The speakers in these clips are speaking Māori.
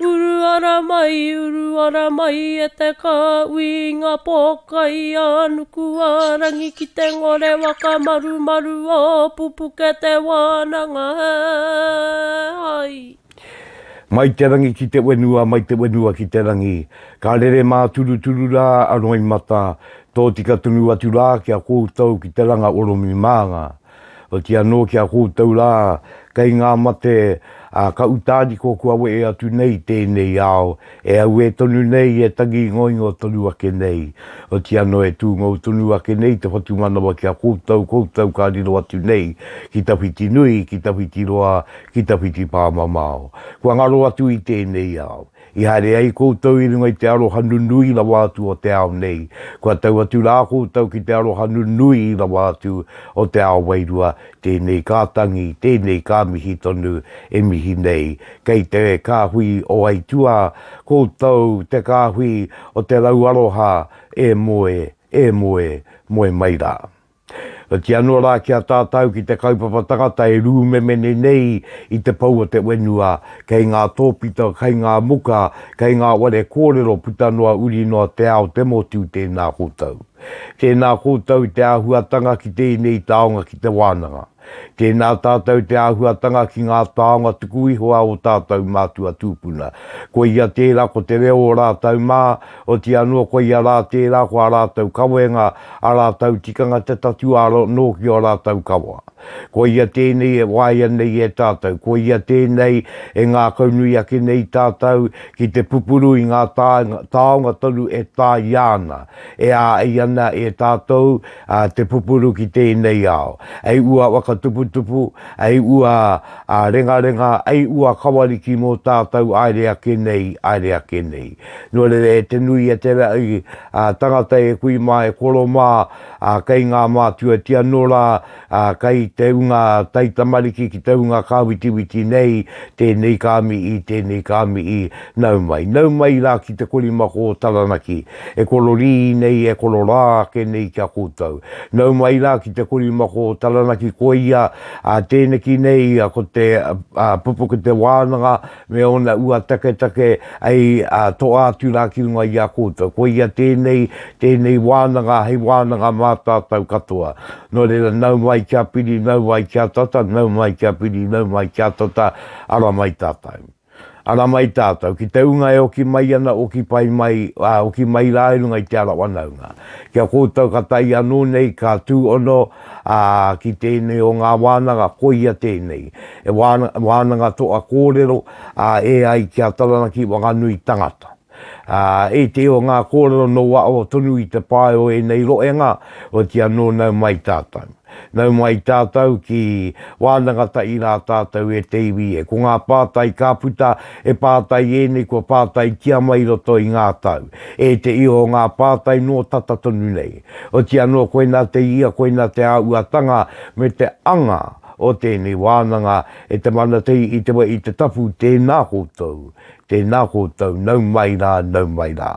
Uru ara mai, uru ara mai e te kāui i ngā pōkai a Nukuārangi ki te ngore whakamarumaru o Pupuke te wānanga he hai. Mai te rangi ki te wenua, mai te wenua ki te rangi, ka rere māturuturu rā a Roimata, tōtika tonu atu rā ki a koutou ki te ranga oromi mānga. Oti anō ki a koutou rā, kei ngā mate, ā, ka utāniko kua wehe atu nei i tēnei ao, e auē tonu nei, e tangi ingoingo tonu ake nei. Oti anō e tūngou tonu ake nei te whatumanawa ki a koutou, koutou ka riro atu nei ki tawhiti nui, ki tawhiti roa, ki tawhiti pāmamao. Kua ngaro atu i tēnei ao. I haere ai koutou i runga i te aroha nunui rawa atu o te ao nei, kua tau atu rā koutou ki te aroha nunui rawa atu o te ao wairua, tēnei ka tangi, tēnei ka mihi tonu, e mihi nei, kei te kāhui o aituā, koutou te kāhui o te rau aroha, e moe, e moe, moe mai rā. Oati anō rā ki a tātau ki te kaupapa tangata e rūmemene nei i te pou o te wenua, kei ngā tōpito, kei ngā muka, kei ngā ware kōrero puta noa uri noa te ao te motu tēnā koutou. Tēnā koutou i te āhuatanga ki tēnei taonga ki te wānanga. Tēnā tātou te āhuatanga ki ngā taonga tuku iho a ō tātou mātua tūpuna. Koia tērā ko te reo o rātou mā, oti anō koia rā tērā ko ā rātou kawenga, ā rātou tikanga te tatū aro nō ki ō rātou kawa. Koia tēnei e waia nei e tātou, koia tēnei e ngākaunui ake nei tātou ki te pupuru i ngā taonga tonu e tāia ana, E āi ana e tātou te pupuru ki tēnei ao. E ua whakatuputupu, e ua rengarenga, e ua kawariki mō tātou aere ake nei, aere ake nei. Nō reira e te nui a te raʻi tangata e kui mā, e koro mā kei ngā mātua tia nō rā ā, kei te ūnga taitamariki ki te ūnga kāwitiwiti nei tēnei kāmiī, tēnei kāmiī, nau mai, nau mai rā ki te korimako o Taranaki, e kororī nei, e kororā ake nei ki a koutou. Nau mai rā ki te korimako o Taranaki, koia, ā, tēneki nei ko te pupuku te wānanga, me ōna ua taketake hei toa atu rā ki runga i a koutou. Koia tēnei, tēnei wānanga hei wānanga mā tātou katoa. Nō reira, nau mai kia piri, nau mai kia tata, nau mai kia piri, nau mai kia tata, ara mai tātou. Ara mai tātou, ki te ūnga e oki mai ana, oki pai mai, ā, oki mai rā i runga i te ara whanaunga. Ki a koutou ka tae anō nei, ka tūhono, Ā, ki tēnei o ngā wānanga, koia tēnei, he wānanga toa kōrero, ā, e ai ki a Taranaki Wanganui tangata. Ā, e te o ngā kōrero nō waho tonu i te pae o ēnei roenga, otiia nō nau mai tātou. Nau mai tātou ki wānangata i rā tātou e te iwi e. Ko ngā pātai ka puta, he pātai ēnei kua pātai kia mai roto i ngā tau. E te i o ngā pātai nō tata tonu nei. Oti anō koinā te ia, koinā te āuatanga me te anga o tēnei wānanga e te mana tei i te wa i te tapu tēnā koutou, tēnā koutou, nau mai rā, nau mai rā.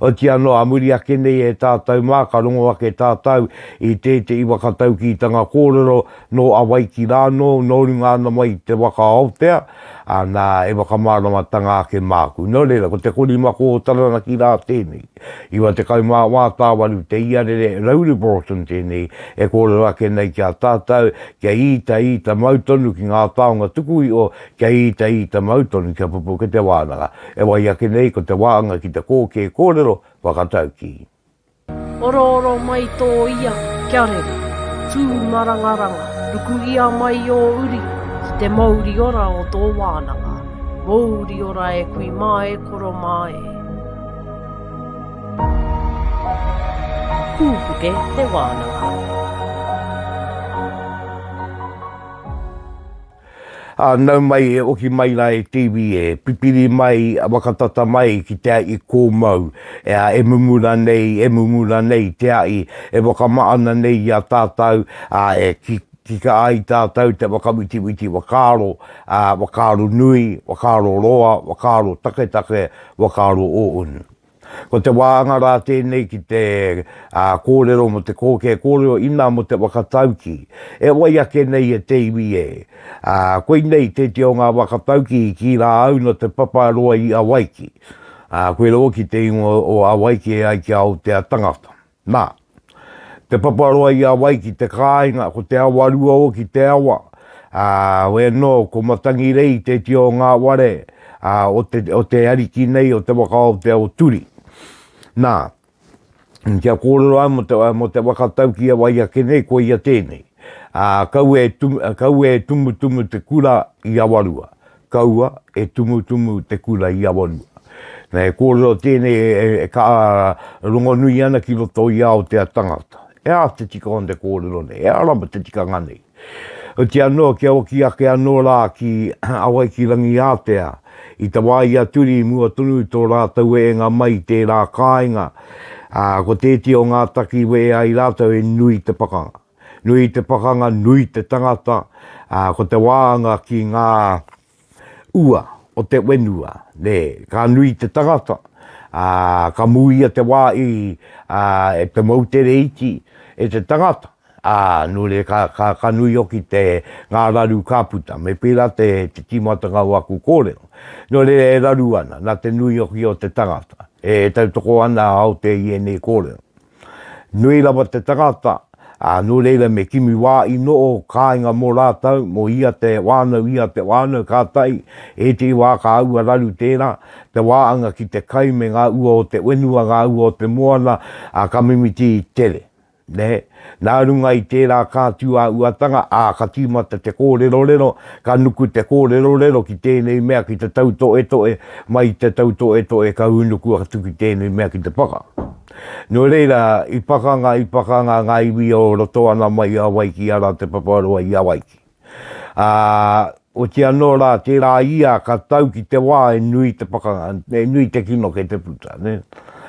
Oti anō a muri ake nei e tātau mā ka rongo ake tātau i tēteʻi wa ka taukītanga kōrero nō Awaiki rānō nō runga ana mai i te wa ka Aotea, ā nā e wa ka māramatanga ake māku. Nō reira ko te kori mako o Taranaki rā tēnei. 94 tāwaru te iarere Rauri Broughton tēnei e kōrero ake nei ki a tātau kia īta īta mau tonu ki ngā taonga tuku iho kia īta īta mau tonu kia pupu ki te wānanga e wai ake nei ko te wāanga ki te kōkē kōrero whakataukī. Orooro mai tō ia kia rere, tū marangaranga, rukuhia mai ō uri ki te mouri ora o tō wānanga, mouri ora e kui mā e koro mā e. Pūpuke te wānanga. Ā, nau mai e oki mai rā e Tiivi e, pipiri mai, waka tata mai ki te aʻi kōmau, ea, e mumu ranei, e mumu ranei te aʻi, e wakamaʻana nei i a tātau, ā, e ki, kika ai tātau te whakawitiwiti whakaaro, ā, whakaaro nui, whakaaro roa, whakaaro taketake, Whakaaro o Unu. Ko te wāanga rā tēnei ki te kōrero mō te kōkē kōrero inā mō te waka tauki. E wai ake nei e te iwi e. Koinei tēti o ngā waka tauki i kī rā au nō Te Paparoa i Awaiki. Koirā hoki te ingoa o Awaiki e ai ki a Aotea tangata. Na, te paparoa i a wai ki te kāinga, ko te awa rua o ki te awa, ā, wē nō, ko Matangirei te iti o ngā ware, ā, o te, o te ariki nei o te waka o Te Aoturi. Na, kia kōrero ai mō te, mō te waka tauki e wai ake nei, ko ia tēnei, ā, kaua e, kaua e tumutumu te kura i Awarua. Kaua e tumutumu te kura i Awanua. Na he kōrero tēnei e kaha rongonui ana ki roto i Aotea tangata. E ā te tika ona te kōrero nei, e ara ma te tikanga nei. Oti anō kia oki ake anō rā ki Awaiki-rangi-ātea, i te wā i a Turi mua tonu i tō rātou ēnga mai i tērā kāinga, ko tēti o ngā taki wē ai rātou he nui te pakanga. Nui te pakanga, nui te tangata, ā, ko te wāanga ki ngā ua o te whenua, nē, ka nui te tangata, ā, ka mūia te wā i, ā, e te moutere iti, e te tangata, ā, nō reira ka, ka, ka nui hoki te, ngā raru ka puta. Me pērā te, te tīmatanga o aku kōrero. Nō reira e raru ana, nā te nui hoki o te tangata, e tautoko ana Aotea i ēnei kōrero. Nui rawa te tangata, ā, nō reira me kimi wā i noho kāinga mō rātou, mō ia te whānau, ia te whānau, kātahi, ētehi wā ka aua raru tērā, te wāanga ki te kai me ngā ua o te whenua, ngā ua o te moana, ā, ka mimiti tere. Nē? Nā runga i tērā ka tū a Uatanga, ā, ka tīmata te kōrerorero, ka nuku te kōrerorero ki tēnei mea ki te tautoetoe, mai i te tautoetoe ka hūnuku atu ki tēnei mea ki te paka. Nō reira, i pakanga, i pakanga ngā iwi o roto ana mai i Hawaiki arā Te Paparoa i Hawaiki. Ā, oti anō rā, tērā ia ka tau ki te wā e nui te pakanga, e nui te kino kei te puta, nē.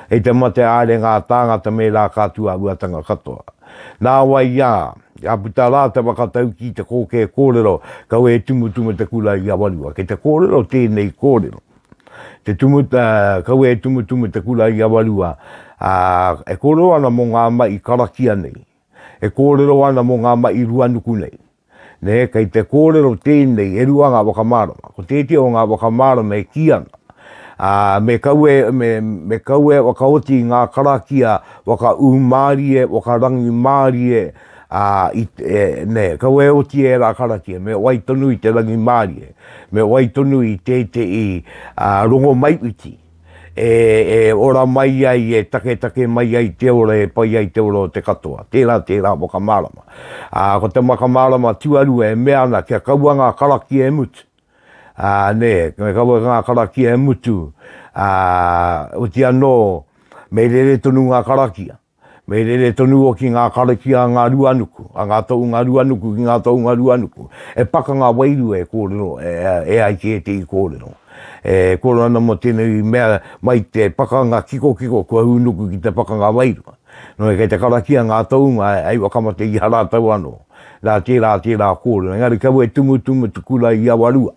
Hei te mate haere ngā tāngata me rā ka tū āhuatanga katoa. Nāwai i a, ka puta rā te whakataukī, te kōkē kōrero, kaua e tumutumu te kura i Awarua. Kei te kōrero tēnei kōrero. Te tumu, kaua e tumutumu te kura i Awarua, ā, e kōrero ana mō ngā mahi karakia nei, e kōrero ana mō ngā mahi ruanuku nei. Nē, kei te kōrero tēnei, e rua ngā whakamārama. Ko tētehi o ngā whakamārama e kī ana, ā, me kaua, me, me kaua e whakaoti i ngā karakia whakaūmārie, whakarangimārie, ā, i, e, nē, kau e oti ērā karakia, me wai tonu i te rangimārie, me wai tonu i tētehi ā, rongomaiwhiti, e, e ora mai ai, e taketake mai ai te ora, e pai ai te ora o te katoa. Tērā, tērā whakamārama. Ā, ko te whakamārama tuarua e mea ana kia kaua ngā karakia e mutu, ā, nē, kia kaua ngā karakia e mutu, ā, oti anō, me rere tonu ngā karakia. Me rere tonu o ki ngā karakia a ngā ruanuku, a ngā tounga ruanuku ki ngā tounga ruanuku. He pakanga wairua e kōrero e ai ki ētehi kōrero. E kōrero ana mō tēnei mea mai te pakanga kikokiko kua hūnuku ki te pakanga wairua. Nō kei te karakia ngā tounga hei whakamate i a rātou anō. Nā tērā tērā kōrero. Engari kaua e tumutumu te kura i awa rua.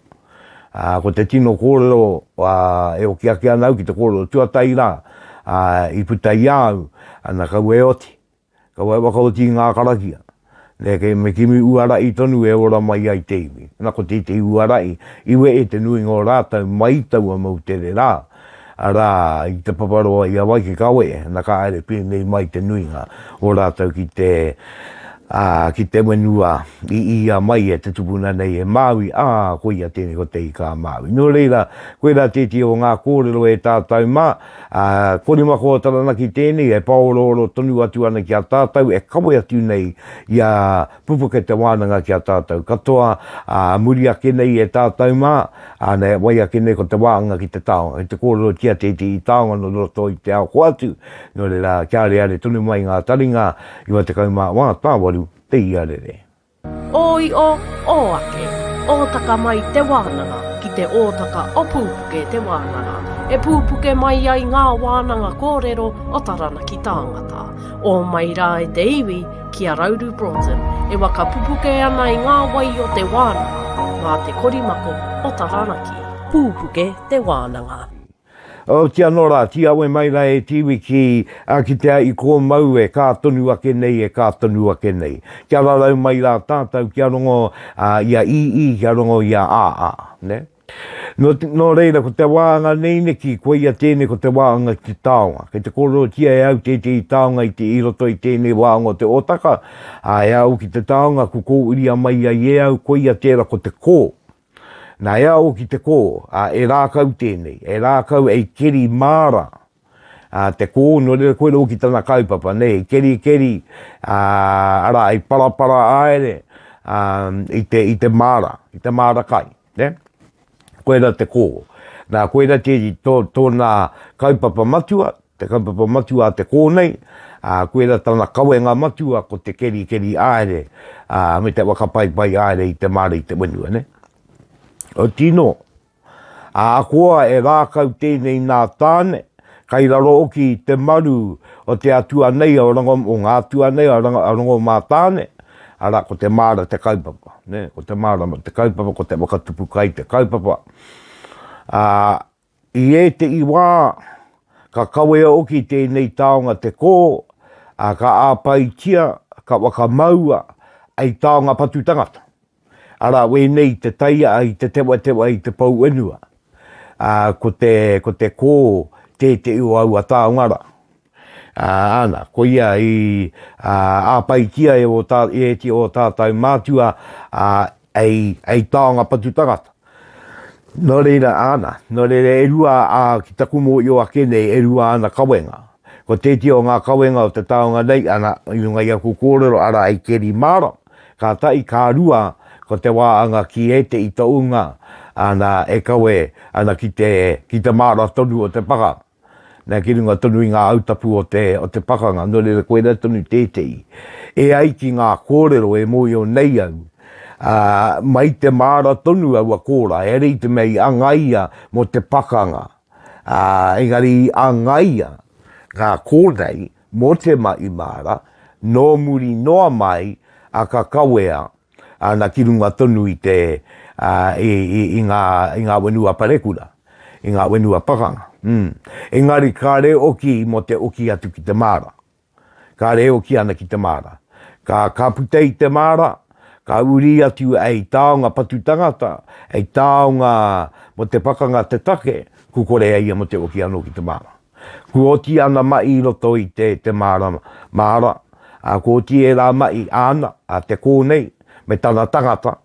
Ā, ko te tino kōrero, ā, e oki ake ana au ki te kōrero tuatahi rā, ā, i puta i a au, ana, kaua e oti, kaua e whakaoti i ngā karakia. Nē, kei me kimi uara i tonu e ora mai ai te iwi. Nā, ko tētehi uara i, i wehe te nuinga o rātou mai i taua moutere rā, arā, i Te Paparoa i a wai ki kawe, na ka haere pēnei mai te nuinga o rātou ki te, ā, ki te whenua i ia mai e te tupuna nei e Māui, ā, koia tēnei ko Te Ika a Māui. Nō reira, koirā tētehi o ngā kōrero e tātou mā, ā, ko Rimakoa Taranaki tēnei e pāorooro tonu atu ana ki a tātou e kawe atu nei i a Pupuke te wānanga ki a tātou katoa, ā, muri ake nei e tātou mā, ā, nei e wai ake nei ko te wānanga ki te taonga, ki te kōrerotia te iti i taonga nō roto i te ao hoatu, nō reira, kia areare tonu mai ngā taringa, 94 tāwaru te iarere. Ōio, ō ake, ōtaka mai te wānanga ki te ōtaka o Pūpuke te wānanga, e pūpuke mai ai ngā wānanga kōrero o Taranaki tāngata, ō mai rā e te iwi, ki a Rauru Broughton, e whakapupuke ana i ngā wai o te wānanga mā te korimako o Taranaki. Pupuke te wānanga. Otia anō rā, tī awe mai rā e Tiwi ki a kitea i kō mau e kā tonu ake nei, e kā tonu ake nei. Kia rarau mai rā tātou kia rongo i a ii, kia rongo i a aa, nē. Nō, nō reira, ko te wāanga nei neki, koia tēnei ko te wāanga ki te taonga. Kei te kōrerotia e au tētehi taonga i te, i roto i tēnei wāanga o te Otaka, ā, e au ki te taonga ku kōuria mai ai e au, koia tērā ko te kō. Nā, e au ki te kō, ā, e rākau tēnei, e rākau ei keri māra, a te kō nō reira koe rō ki tana kaupapa nei i kerikeri a ara i parapara aere a i te i te māra i te māra kai ne koe ra te kō na koe ra te to tona kaupapa matua te kaupapa matua a te kō nei a koe ra tana kawenga matua ko te kerikeri aere a me te whakapaipai aere i te māra i te whenua ne o tino Ahakoa e rākau tēnei nā Tāne, kai raro hoki i te maru o te atua nei o Rango, o ngā atua nei o Rango, a Rango-mā-Tāne, arā, ko te māra te kaupapa, nē, ko te mārama te kaupapa, ko te whakatupu kai te kaupapa. Ā, i ētehi wā, ka kawea hoki tēnei taonga te kō, ā, ka āpaitia, ka whakamaua hei taonga patu tangata. Arā wēnei i te taiaa, i te tewatewa, i te pouwhenua, ā, ko te, ko te kō tēteʻi o aua taonga rā. Ā, āna, koia i, ā, āpaitia e ō tā, e te ō tātou mātua, ā, hei, hei taonga patu tangata. Nō reira, āna, nō reira e rua, ā, ki taku mōio ake nei, e rua āna kawenga. Ko tētehi o ngā kawenga o te taonga nei, āna, i runga i aku kōrero, arā hei keri mārama. Kāta i kā rua ko te wā anga ki ēte i tounga ana e kawe ana ki te ki te māra tonu o te paka nā ki runga tonu i ngā autapu o te o te pakanga nō reira koirā tonu tētehi e ai ki ngā kōrero e mōio nei au ā mai te māra tonu aua kōrā heare i te mea i angaia mō te pakanga ā engari i angaia ngā kōrei Mō te mahi māra, nō muri noa mai a ka kawea ana ki runga tonu i te, i ngā, i ngā whenua parekura, i ngā whenua pakanga. Umm. Engari kāre oki mō te oki atu ki te māra. Kāre e oki ana ki te māra. Ka, ka puta i te māra, ka uri atu hei taonga patu tangata, hei taonga mō te pakanga te take, kukore a ia mō te oki anō ki te māra. Kua oti ana maʻi i roto i te te marama, māra, a, kua oti ērā maʻi āna, a te kō nei, me tana tangata,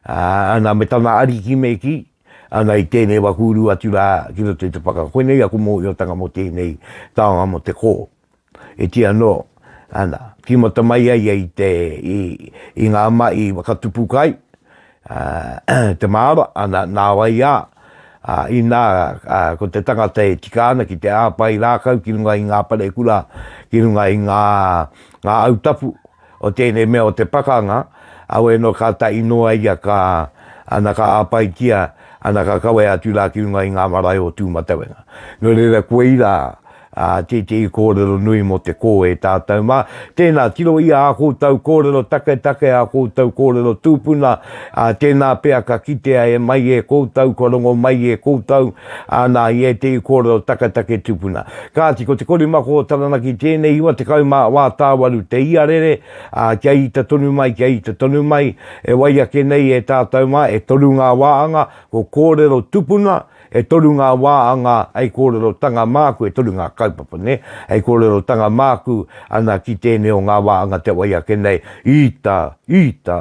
a, ana me tana ariki me kī, ana i tēnei wā kūru atu rā ki roto i te paka. Koinei aku mōhiotanga mō tēnei taonga mō te kō. E kī anō, ana, tīmata mai ai ia i te, i ngā mahi i whakatupu kai, te māra, ana, nāwai ā, ā, inā, ā, ko te tangata e tika ana ki te hāpai rākau ki runga i ngā parekura, ki runga i ngā, ngā au tapu, o tēnei mea o te pakanga, auē nō ka tahi noa ia ka, ana ka āpaitia, ana ka kawe atu rā ki runga i ngā marae o Tūmatauenga. Nō reira koei rā ā tētehi kōrero nui mō te kō e tātau mā, tēnā tirohia ā kōtau kōrero taketake, ā kōtau kōrero tūpuna, ā tēnā pea ka kitea e mai e kōtau kua rongo mai e kōtau ā, nā, i ētehi kōrero taketake tupuna. Kāti, ko te korimako o Taranaki tēnei iwa tekau mā wā tāwaru te iarere, ā, kia ita tonu mai, kia ita tonu mai, e wai ake nei e tātou mā, e toru ngā wāanga, ko kōrero tupuna, e toru ngā wāanga hei kōrerotanga māku, e toru ngā kaupapa, nē, hei kōrerotanga māku, ana, ki tēnei o ngā wāanga te wai ake nei, ita, ita,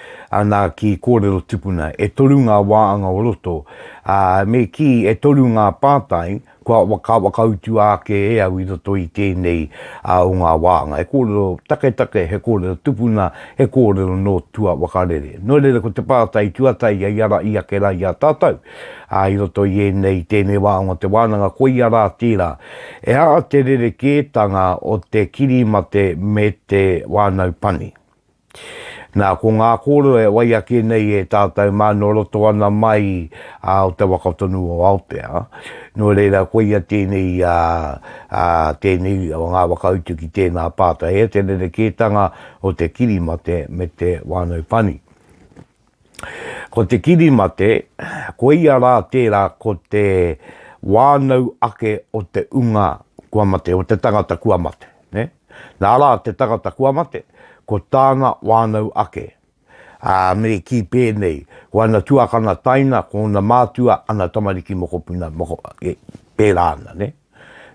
Anā, ki kōrero tupuna, e toru ngā wāanga o roto, ā, me kī, e toru ngā pātai kua whakawhakautua ake e au i roto i tēnei o ngā wāanga. He kōrero taketake, he kōrero tupuna, he kōrero nō tua wakarere. Nō reira, ko te pātai tuataia i ara i ake rā i a tātou i roto i ēnei, tēnei wāanga o te wānanga, koia rā tērā, E aha te rerekētanga o te kirimate me te wānau pani? Nā, ko ngā kōrero e wai ake nei e tātou mā nō roto ana mai o te waka tonu o Aotea, nō reira koia tēnei, tēnei o ngā whakautu ki tēnā pātai, he te rerekētanga o te kirimate me te whānau pani. Ko te kirimate, koia rā tērā ko te wānau ake o te unga kua mate, o te tangata kua mate. Nā rā te tangata kua mate, ko tāna wānau ake. Ā, me kī pēnei, ko ana tuakana taina, ko ōna mātua, ana tamariki mokopuna, pērā ana.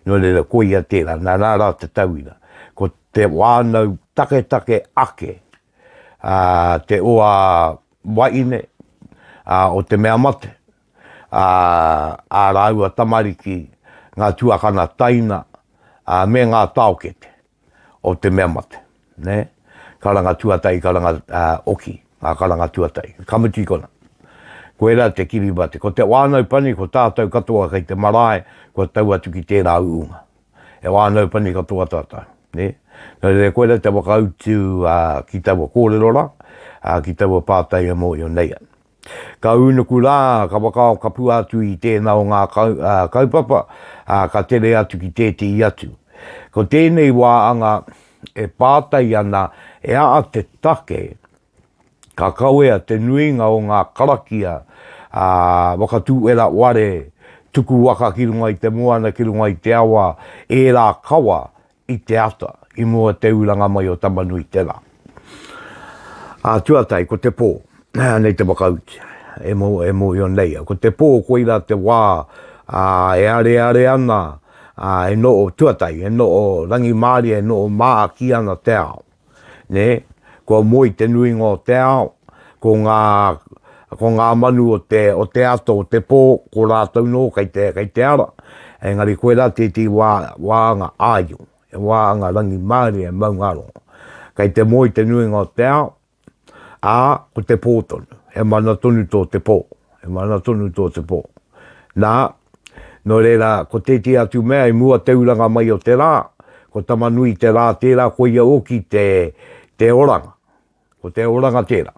Nō reira, koia tērā, nā rā te tauira, ko te wānau taketake ake. a te oa waine a o te mea mate, a a raua tamariki, nga tuakana taina, a me nga taokete o te mea mate. Ne? Karanga tuatai, karanga a oki, nga karanga tuatai. Ka mutu i kona. Koira te Kiribati. Ko te Whanau Pani, ko tatou katoa kei te marae, kua tau atu ki tera uunga. E wānau pani katoa tātou, nē. Nō reira, koirā te whakautu ki taua kōrero rā, ki taua pātai e mōhio nei ana. Ka ūnuku rā, ka whakaao kapua atu i tēnā o ngā kaupapa, ka tere atu ki tētehi atu. Ko tēnei wā anga e pātai ana e aha te take Ka kawea te nuinga o ngā karakia ā Wakatūera Ware tuku waka ki runga i te moana ki runga i te awa ērā kawa i te ata i mua te uranga mai o Tamanui tērā ā Tuatai ko te pō nei te whakautu e mo e mohio nei au ko te pō koira te wā ā e areare ana ā e noho Tuatai e noho Rangimārie e noho mā ki ana te ao. nē, kua moe te nuinga o te ao, ko ngā, ko ngā manu o te, o te ata o te pō, ko rātou nō kei te, kei te ara. Engari koirā tētehi wā, wāanga āio, he wāanga rangimārie e maungārongo. Kei te moe te nuinga o te ao, ā, ko te pō tonu, he mana tonu tō te pō, He mana tonu tō te pō. Nā, nō reira, ko tētehi atu mea i mua te uranga mai o te rā, ko Tama-nui-te-rā tērā koia hoki te, te oranga. Ko te oranga tērā.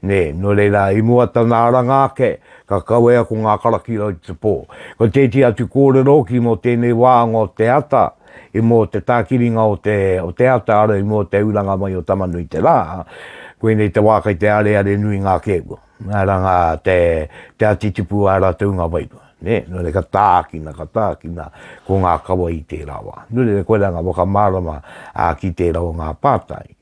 Nē, nō reira, i mua tana aranga ake, ka kawea ko ngā karakia i te pō. Ko tētehi atu kōrero hoki mō tēnei wāanga o te ata, i mō te tākiringa o te, o te ata, arā, i mua te uranga mai o Tama-nui-te-rā, koinei te wā kei te areare nui ngā kēkua. Nga ra nga te tea titipu a ratou nga wairua, ne, no re ka taakina, ka taakina ko nga kawa i tera wa. No reira koe ra nga whakamarama a ki tera o nga patai.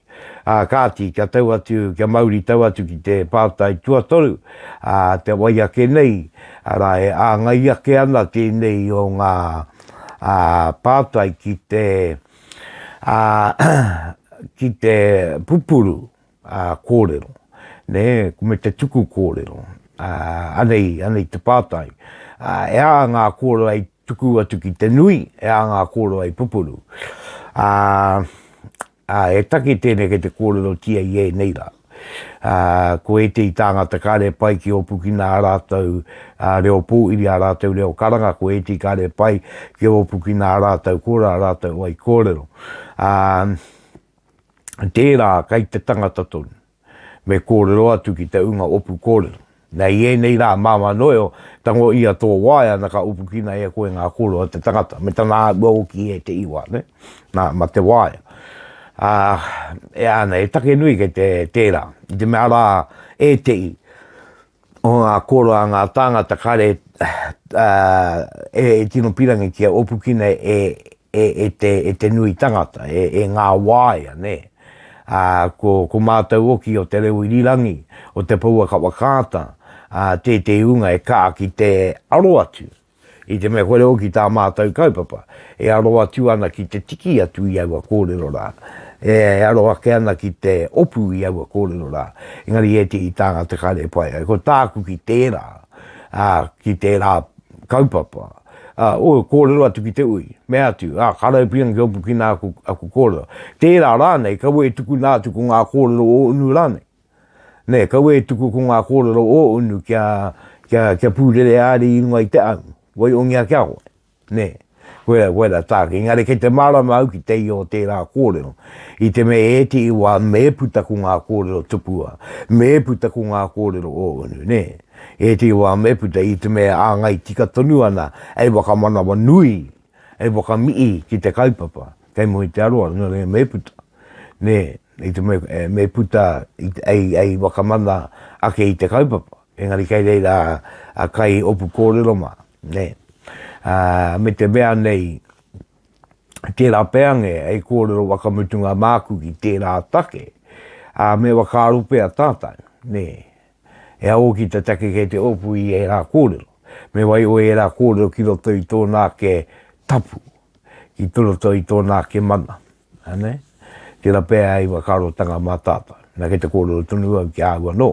A kaati, kia tau atu, kia mauri tau atu ki te patai tuatoru, a te wai ake nei, ara e aangai ake ana tenei o nga patai ki te, a, ki te pupuru. Ā, kōrero. Nē, me te tuku kōrero. Ā, anei, anei te pātai. Ā, e ā ngā kōrero hei tuku atu ki te nui, e ā ngā kōrero hei pupuru. Ā, ā, he take tēnei kei te kōrerotia i ēnei rā. Ā, ko ētehi tāngata kāre pai ki ōpukina ā rātou reo pōiri, ā rātou reo karanga, ko ētehi kāre pai ki ōpukina ā rātou kōrero, ā rātou wai kōrero. Ā. tērā kei te tangata tonu, me kōrero atu ki te ūnga opu kōrero. Nei i ēnei rā, māmā noeo, tango i a tō waea na ka opukina e a koe ngā kōrero a te tangata, me tana āhua hoki e te iwa, nē? Nā, ma te waea. Ā, e ana, he take nui kei te, tērā, i te mea rā, ētehi o ngā kōrero a ngā tāngata kare, ā, e tino pirangitia, opukina e, e, e te, e te nui tangata, e, e ngā waea, nē. Ā, ko, ko mātou oki o te reo irirangi, o te pouaka whakaata, ā, tētehi ūnga e kā ki te aro atu, i te mea kore oki tā mātou kaupapa, e aro atu ana ki te tiki atu i aua kōrero rā, e, e aro ake ana ki te opu i aua kōrero rā, engari ētehi tāngata kāre e pai ai. Ko tāku ki tērā, ā, ki tērā kaupapa. Ā, ōu kōrero atu ki te ui, mea atu, Ā, ka raupinga ki oku ki nā aku, aku kōrero. Tērā rānei, kaua e tuku nā atu ko ngā kōrero o unu rānei. Nē, kaua e tuku ko ngā kōrero o unu kia, kia, kia pūrere āri i runga i te au, wai ongia ki a koe. Nē, koirā, koirā tāku. Engari kei te mārama au ki te ia o tērā kōrero, i te mea e ētehi wā me puta ko ngā kōrero tupua, me puta ko ngā kōrero o unu, nē. He iti wā me puta i te mea āngai tika tonu ana hei whakamanawa nui, hei whakamihi ki te kaupapa kei mua i te aroaro, nō reira me puta, nē, i te mea me puta hei whakamana ake i te kaupapa, engari kei reira a kai opu kōrero mā, nē. Ā, me te mea nei, tērā pea nge hei kōrero whakamutunga māku ki tērā take, ā, me whakaaro pea tātou, nē, He aha hoki te take kei te opu i ērā kōrero? Me waiho ērā kōrero ki roto i tōna ake tapu, ki te roto i tōna ake mana. Anei? Tērā pea hei whakaarotanga mā tātou. Na, kei te kōrero tonu au ki a au anō,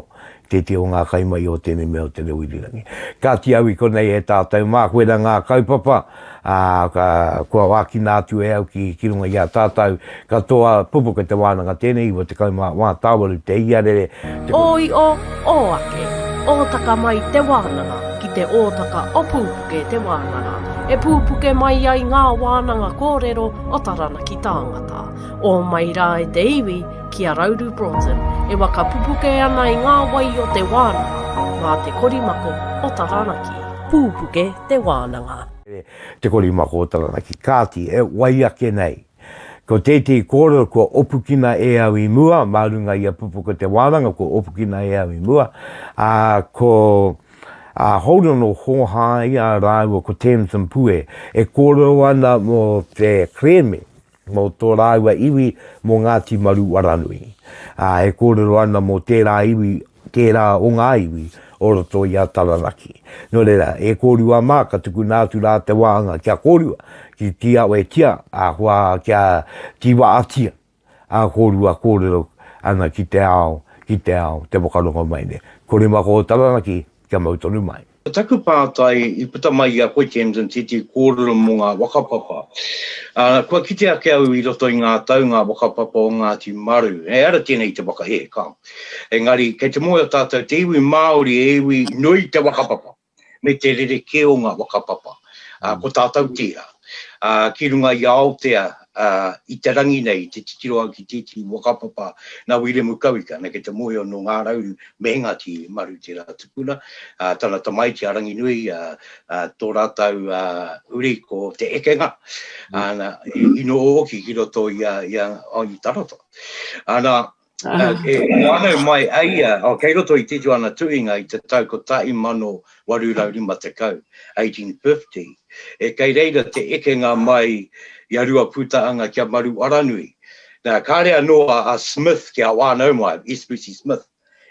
i tētehi o ngā kaimahi o tēnei mea o te reo irirangi. Kāti au i konei e tātou, mā koe rā ngā kaupapa, ā, ka, kua ākina atu e au ki, ki runga i a tātou katoa, pupuke te wānanga tēnei, iwa tekau mā wā, tāwaru te iarere, te. Ōio, ō ake, ōtaka mai te wānanga ki te ōtaka o pūpuke te wānanga, e pūpuke mai ai ngā wānanga kōrero o Taranaki tāngata, ō mai rā e te iwi, ki a Rauru Broughton, e waka pupuke ana i ngā wai o te wānanga, mā te korimako o Taranaki. Pūpuke te wānanga. Te Korimakōtarana ki Kāti, e wai ake nei. Ko tētehi kōrero kua opukina e au i mua, mā runga i a Pupuke te wānanga kua opukina e au i mua, ā, ko a Holden o Hōhāia rāua ko Tamsin Pue e kōrero ana mō te kerēme mō tō rāua iwi mō Ngāti Maru Waranui, ā, e kōrero ana mō tērā iwi, tērā o ngā iwi o roto i a Taranaki. Nō reira, e kōrua mā, ka tukuna atu rā te wāanga kia kōrua, ki tīawetia, ahakoa kia tīwaatia, ā, kōrua kōrero ana ki te ao, ki te ao, te whakarongo mai nei. Ko Rimakoho Taranaki, kia mau tonu mai. Ko taku pātai i puta mai i a koe Tamsin tētahi kōrero mō ngā whakapapa. Kua kite ake au i roto i ngā tau ngā whakapapa o Ngāti Maru, he ara tēnei te whakahē, ka. Engari kei te moe o tātou te iwi Māori e iwi nui te whakapapa me te rerekē o ngā whakapapa. ā, ko tātou tērā. Ā, ki runga i a Aotea, ā, i te rangi nei, i te titiro au ki tētehi whakapapa nā Wiremu Kawika, nā, ki te mōhio nō Ngā Rauru me Ngāti Maru tērā tupuna, ā, tana tamaiti a Ranginui, ā, ā, tō rātou, ā, uri ko Te Ekenga, ā, nā, i noho hoki ki roto i a, i a, i Tarawha. Ā, nā. Uh, e, e mai a ia, oh, kei roto i titu ana tuinga i te tau ko tahi mano waru rau lima te kau, 1850. E kei reira te eke ngā mai i a rua pūtaanga kia maru aranui. Nā, kāre anō a, a Smith ki a wānau mai, Espesi Smith.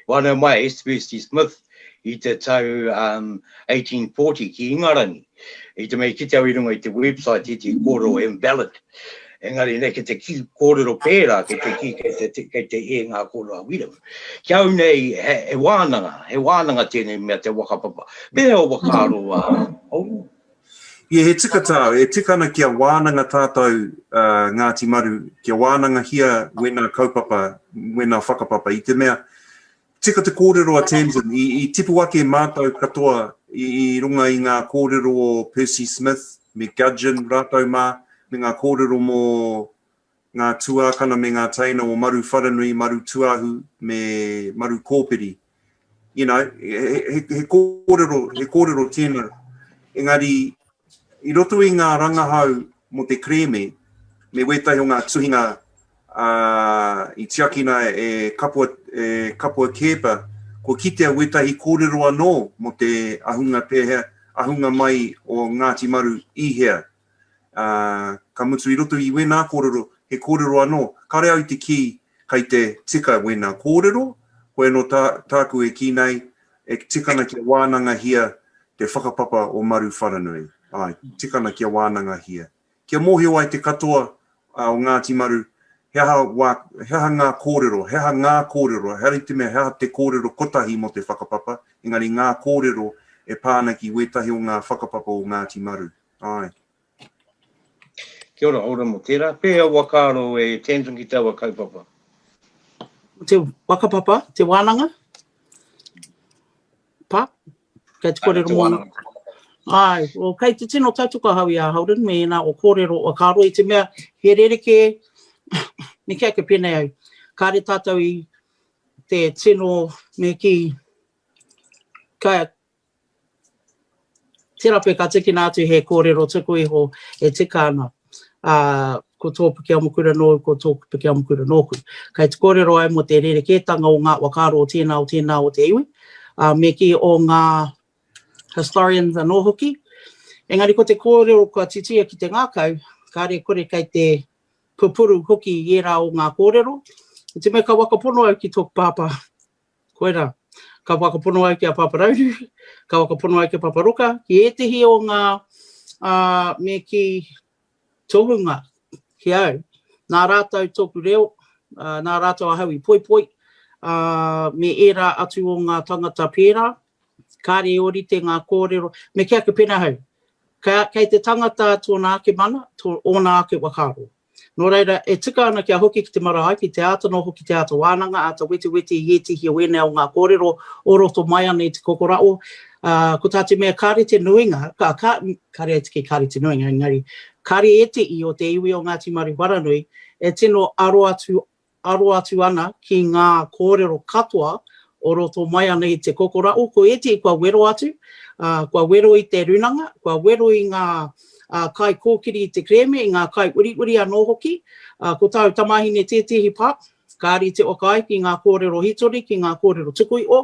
Wānau mai a Espesi Smith, i te tau 1840 ki Ingarangi, i te mea i kite au i runga i te website i te kōrero invalid, engari nei ki te ki kōrero pērā ki te ki kei te, te, kei te e ngā kōrero a Wiremu. Ki au nei, he, he wānanga, he wānanga tēnei mea te wakapapa. Me he o wakaaro a Auru. Ia he tika tā, e tika ana kia wānanga tātou uh, Ngāti Maru, kia wānangahia wēnā kaupapa, wēnā whakapapa, i te mea, Tika te kōrero a Tamsin, i tipu ake mātou katoa i runga i ngā kōrero o Percy Smith me Gudgeon rātou mā, me ngā kōrero mō ngā tuākana me ngā teina o Maruwharanui, Marutuahu me Marukōpiri. You know, he, he, he, kōrero, he kōrero tēnā. Engari, i roto i ngā rangahau mō te kerēme, me wētahi o ngā tuhinga ā, i tiakina e Kapua, e Kapua Keepa, kua kitea wētahi kōrero anō mō te ahunga pēhea, ahunga mai o Ngāti Maru i hea. Ā, ka mutu i roto i wēnā kōrero, he kōrero anō, kāre au te kī kei te tika wēnā kōrero, koe anō tā, tāku e kī nei, e tika ana kia wānangahia te whakapapa o Maru Wharanui. Āe, tika ana kia wānangahia. Kia mōhio ai te katoa o Ngāti Maru he aha wā, he aha ngā kōrero, he aha ngā kōrero, hari te mea he aha te kōrero kotahi mō te whakapapa, engari ngā kōrero e pā ana ki wētahi o ngā whakapapa o Ngāti Maru. Āe. Kia ora, ora mō tērā. Pēhea ua kāro e Tamsin ki taua kaupapa? Ko te whakapapa, te wānanga? Pa? Kei te korero mo na. Ai, o kei te tino tautuku a hau i a Holden me ena o korero o karo i te mea he rereke ni ke ake penei ai. Kare tatou i te tino me ki ka Terape, ka tikina atu he kōrero tuku iho e tika ana, ā, ko tō Pikiamukura nōu, ko tōku Pikiamukura nōku. Kei te kōrero ai mō te rerekētanga o ngā whakaaro o tēnā, o tēnā o te iwi, ā, me kī, o ngā historians anō hoki. Engari ko te kōrero kua titia ki te ngākau, kāre kore kei te pupuru hoki i ērā o ngā kōrero. I te mea ka whakapono au ki tōku pāpā, Koirā. Ka whakapono ai ki a Pāpā Rauru, ka whakapono ai ki a Pāpā Roka, ki ētehi o ngā me kī tohunga ki au, nā rātou tōku reo, nā rātou ahau i poipoi, me ērā atu o ngā tangata pērā, kāre i ōrite ngā kōrero, me kī ake pēnei ahau, kei te tangata tōna ake mana, ōna ake whakaaro. Nō reira, e tika ana kia hoki ki te marae, ki te āta noho, ki te āta wānanga, āta wetiweti i ētehi o ēnei o ngā kōrero o roto mai ana i te kokoraʻo, ā, ko tā te mea kāre te nuinga, ka, ka, kāre ai te kī kāre te nuinga, engari, kāre ētehi o te iwi o Ngāti Maru Wharanui e tino aro atu aro atu ana ki ngā kōrero katoa o roto mai ana i te kokoraʻo, ko ētehi kua wero atu, ā, kua wero i te runanga, kua wero i ngā kaikōkiri i te kerēme, i ngā kaiuriuri anō hoki. Ko tāu tamāhine tētehi pā, ka rite waka ai ki ngā kōrero hītori, ki ngā kōrero tukuiʻo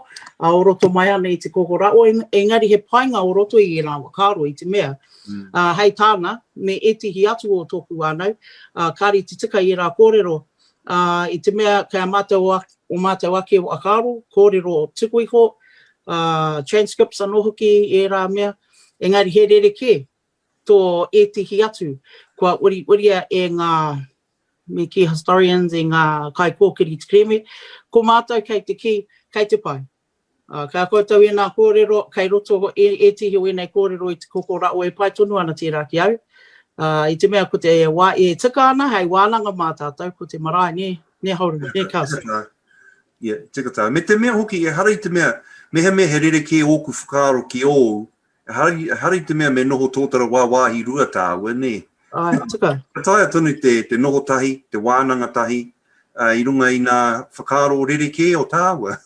o roto mai ana i te kokoraʻo, engari he painga o roto i ērā whakaaro i te mea, Ā, hei tāna, me ētehi atu o tōku whānau, ā, kāre te tika i ērā kōrero, ā, i te mea kei a mātou o, o mātou ake whakaaro, kōrero tuku iho, ā, transcripts anō hoki i ērā mea, engari he rerekē tō ētehi atu kua uriuria e ngā, me kī, historians, e ngā kaikōkiri kerēme, ko mātou kei te kī, kei te pai. Ā, ka koutou ēnā kōrero, kei roto e ētehi o ēnei kōrero i te kokoraʻo e pai tonu ana tērā ki au, ā, i te mea ko te wā e tika ana hei wānanga mā tātou ko te marae, nē, nē Hourua, nē Carson? Tika tā. Ia, tika tā. Me te mea hoki, ehara i te mea, mehemea he rerekē ōku whakaaro ki ōu, Hari, hari te mea me noho tōtara wā wāhi rua tāua, nē? Ai, tika. Ka taea tonu te, te noho tahi, te wānanga tahi, uh, i runga i nā whakaaro rerekē o tāua.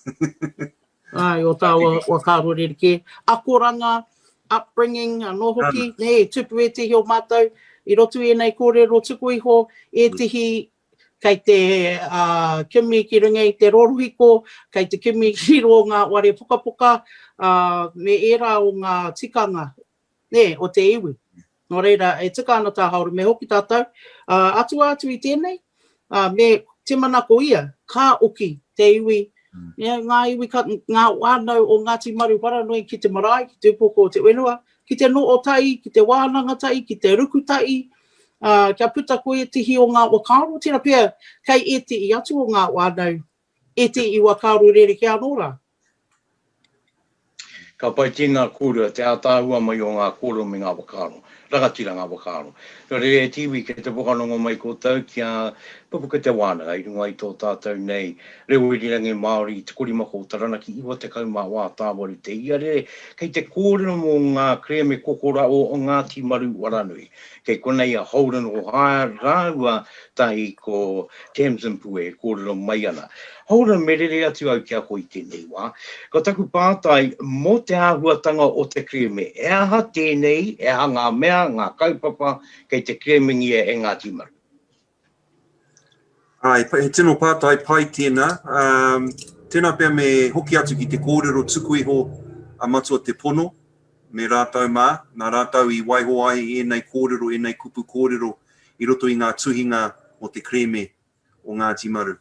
Ai, o tāua whakaaro rerekē. Akoranga, upbringing, anō hoki, um, nē, tupu ētehi o mātou, i roto i ēnei kōrero tuku iho, ētehi kei te kimi ki runga i te rorohiko, kei te kimi ki rō ngā ware pukapuka, me ērā o ngā tikanga o te iwi. Nō reira, e tika ana tā Hāora, me hoki tātou, atua atu i tēnei, me timanako ia, ka oki te iwi, ngā iwi, ngā whānau o Ngāti Maru wharanui ki te marae, ki te upoko o te whenua, ki te noo tahi, ki te wānanga tahi, ki te ruku tahi, Ā, kia puta ko ētehi o ngā whakaaro, tērā pea kei ētehi atu o ngā whānau, ētehi whakaaro rerekē anō rā. Ka pai ki ngā kōrua te ātaahua mai o ngā kōrero me ngā whakaaro, rangatira ngā whakaaro. Nō reira e Tiwi, kei te whakarongo mai koutou kia pupuku te wānanga i runga i tō tātou nei reo irirangi Māori 30 ko Taranaki 94 tāwaru te iarere kei te kōrero mō ngā kerēme kokoraʻo o Ngāti Maru Waranui. Kei konei a Holden O'Hire rāua tahi ko Tamsin Pue e kōrero mai ana. Holden, me rere atu au ki a koe i tēnei wā. Ko taku pātai, mō te āhuatanga o te kerēme, he aha tēnei, he aha ngā mea, ngā kaupapa kei te kerēmengia e Ngāti Maru? Āe, he tino pātai pai tēnā. Tēnā pea me hoki atu ki te kōrero tuku iho a Matua Te Pono me rātou mā, nā rātou i waiho ai ēnei kōrero, ēnei kupu kōrero i roto i ngā tuhinga mō te kerēme o Ngāti Maru.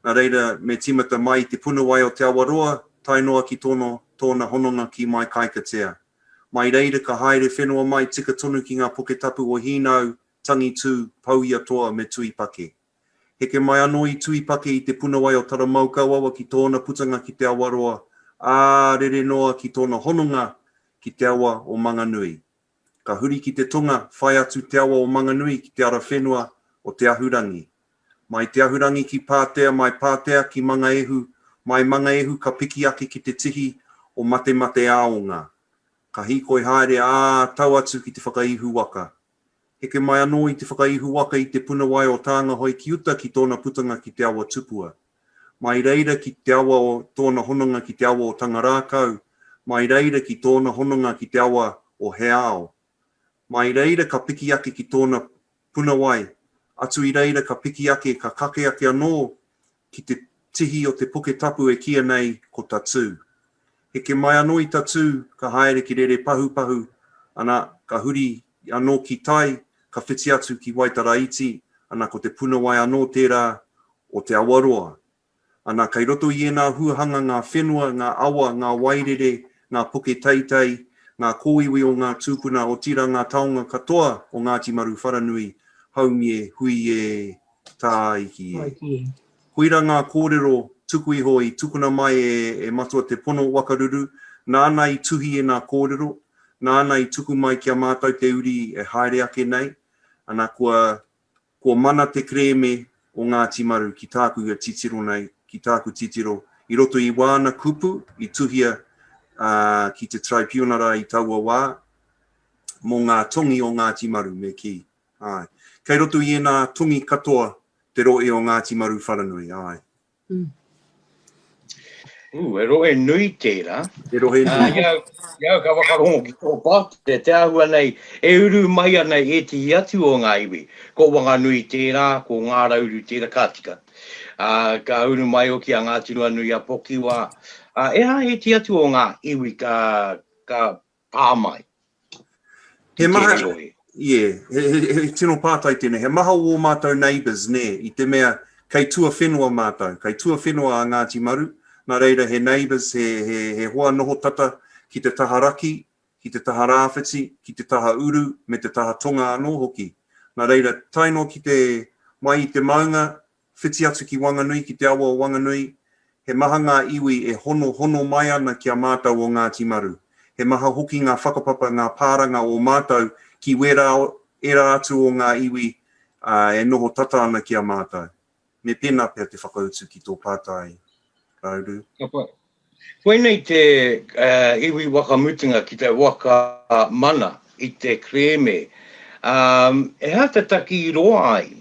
Nā reira, me tīmata mai i te puna wai o Te Awaroa, tae noa ki tōna, tōna hononga ki Maikaikatea. Mai reira ka haere whenua mai tika tonu ki ngā poke tapu o Hīnau, Tangi Tū, Pou-ia-toa me Tuipake. Heke mai anō i Tuipake i te punawai o Taramaukauawa ki tōna putanga ki Te Awaroa, ā, rere noa ki tōna hononga ki te awa o Manganui. Ka huri ki te tonga, whai atu te awa o Manganui ki te ara whenua o Te Ahurangi. Mai Te Ahurangi ki Pātea, mai Pātea ki Mangaehu, mai Mangaehu ka piki ake ki te tihi o Matemateāonga. Ka hīkoi haere, ā, tau atu ki te whakaihu waka. Heke mai anō i te whakaihuwaka i te puna wai o Tāngahoe ki uta ki tōna putanga ki te awa tupua. Mai reira ki te awa o tōna hononga ki te awa o Tangarākau, mai reira ki tōna hononga ki te awa o Heao. Mai reira ka piki ake ki tōna puna wai, atu i reira ka piki ake, ka kake ake anō ki te tihi o te poke tapu e kīa nei ko Tatū. Heke mai anō i Tatū, ka haere ki Rerepahupahu, ana, ka huri anō ki tai, ka whiti atu ki Waitara Iti, ana, ko Te Punawai anō tērā o Te Awaroa. Ana, kei roto i ēnā huahanga ngā whenua, ngā awa, ngā wairere, ngā poke teitei, ngā kōiwi o ngā tūpuna, otirā ngā taonga katoa o Ngāti Maru Wharanui, Haumie, Huie, Tāiki e. Tāiki e. Koira ngā kōrero tuku iho i tukuna mai e e Matua Te Pono o Wakaruru, nāna i tuhi ēnā kōrero, nāna i tuku mai ki a mātou te uri e haere ake nei, ana kua kua mana te kerēme o Ngāti Maru ki tāku e titiro nei, ki tāku titiro, i roto i wāna kupu i tuhia ā, ki te Traipiunara i taua wā, mō ngā tongi o Ngāti Maru me kī. Āe. Kei roto i ēnā tongi katoa te rohe o Ngāti Maru Wharanui. Āe. Mm. Ooh, he rohe nui tērā. He rohe nui. Ā, i au, ka whakarongo ki tō pātere, te āhua nei, e uru mai ana i ētehi atu o ngā iwi. Ko Wanganui tērā, ko Ngārauru tērā, ka tika. Ā, ka uru mai hoki a Ngāti Ruanui-a-Pokiwā. Ā, e hā ētehi atu o ngā iwi ka, ka pā mai. He maha, yeah, he, he, he, he tino pātai tēnei, he maha o mātou neighbours, nē, i te mea kei tua whenua mātou, kei tua whenua a Ngāti Maru, nā reira he neighbours, he, he, he hoa noho tata ki te taha raki, ki te taha rāwhiti, ki te taha uru, me te taha tonga anō hoki. Nā reira, taino ki te mai i te maunga, whiti atu ki Wanganui, ki te awa o Wanganui, he maha ngā iwi e hono hono mai ana ki a mātou o Ngāti Maru. He maha hoki ngā whakapapa, ngā pāranga o mātou ki wērā ērā atu o ngā iwi e noho tata ana ki a mātou. Me pēnā pea te whakautu ki tō pātai, Rauru. Ka pai. Koinei te iwi wakamutunga ki te waka mana i te kerēme. He aha te taki i roa ai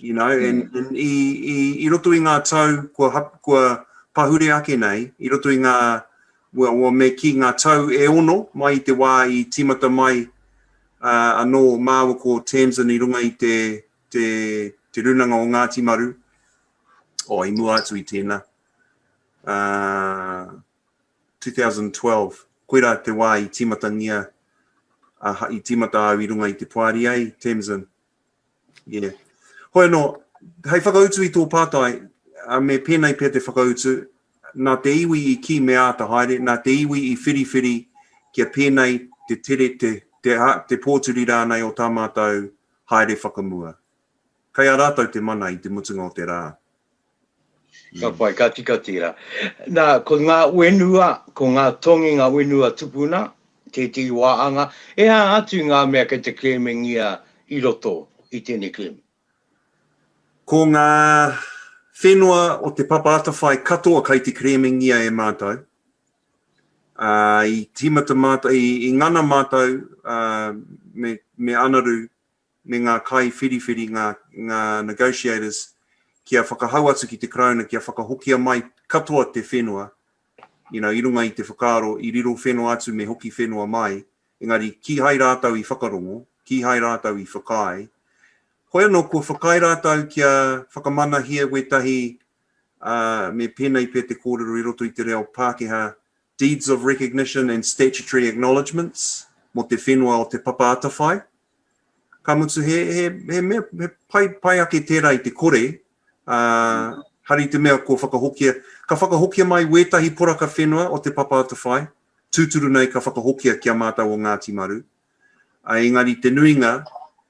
You know, mm. and, and i, i, i roto i ngā tau kua, hap, kua pahure ake nei, i roto i ngā, well, well, me ki ngā tau e ono, mai i te wā i tīmata mai uh, anō māua ko Tamsin i runga i te, te, te runanga o Ngāti Maru, o oh, i mua atu i tēnā, uh, 2012, koe rā te wā i tīmatangia, uh, i tīmata au i runga i te poari ai, Tamsin, Yeah. Hoi anō, hei whakautu i tō pātai, me pēnei pea te whakautu, nā te iwi i kī me āta haere, nā te iwi i whiriwhiri kia pēnei te tere, te, te, te pōturi rānei o tā mātou haere whakamua. Kei a rātou te mana i te mutunga o te rā. Ka pai, ka tika tērā. Nā, ko ngā whenua, ko ngā tonginga whenua tupuna, tētehi wā anga, e aha atu ngā mea kei te klēmingia i roto i tēnei klēmi? Ko ngā whenua o te papa atawhai katoa kei te klēmingia e mātou. I tīmata mātou, i ngana mātou me Anaru me ngā kaiwhiriwhiri, ngā, ngā negotiators, kia whakahau atu ki te Karauna kia whakahokia mai katoa te whenua, you know, i runga i te whakaaro, i riro whenua atu me hoki whenua mai, engari kīhai rātou i whakarongo, kīhai rātou i whakaae. Hoi anō, kua whakaae rātou kia whakamanahia wētahi, ā, me pēnei pea te kōrero i roto i te reo Pākehā, deeds of recognition and statutory acknowledgements, mō te whenua o Te Papa Atawhai, ka mutu he, he, he, mea, he pai, pai ake tērā i te kore, uh, hari te mea ko whakahokia, ka whakahokia mai wētahi poraka whenua o te papa atawhai, tūturu nei ka whakahokia ki a mātou o Ngāti Maru. Uh, engari te nuinga,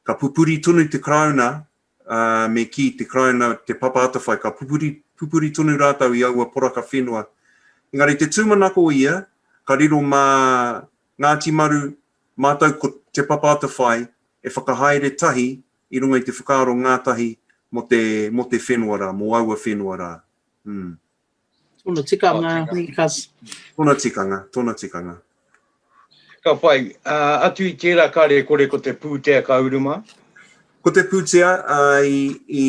ka pupuri tonu te karauna, uh, me ki te karauna, te papa atawhai, ka pupuri, pupuri tonu rātou i aua poraka whenua. Engari te tūmanako ia, ka riro mā Ngāti Maru, mātou ko Te Papa Atawhai e whakahaere tahi i runga i te whakaaro ngātahi mō te, mō te whenua rā, mō aua whenua rā. Mm. Tōna tikanga, Nikas. Tōna tikanga, tōna tikanga. Ka pai. Uh, atu i tērā ka rekore ko te pūtea ka uru mā? Ko te pūtea uh, i, i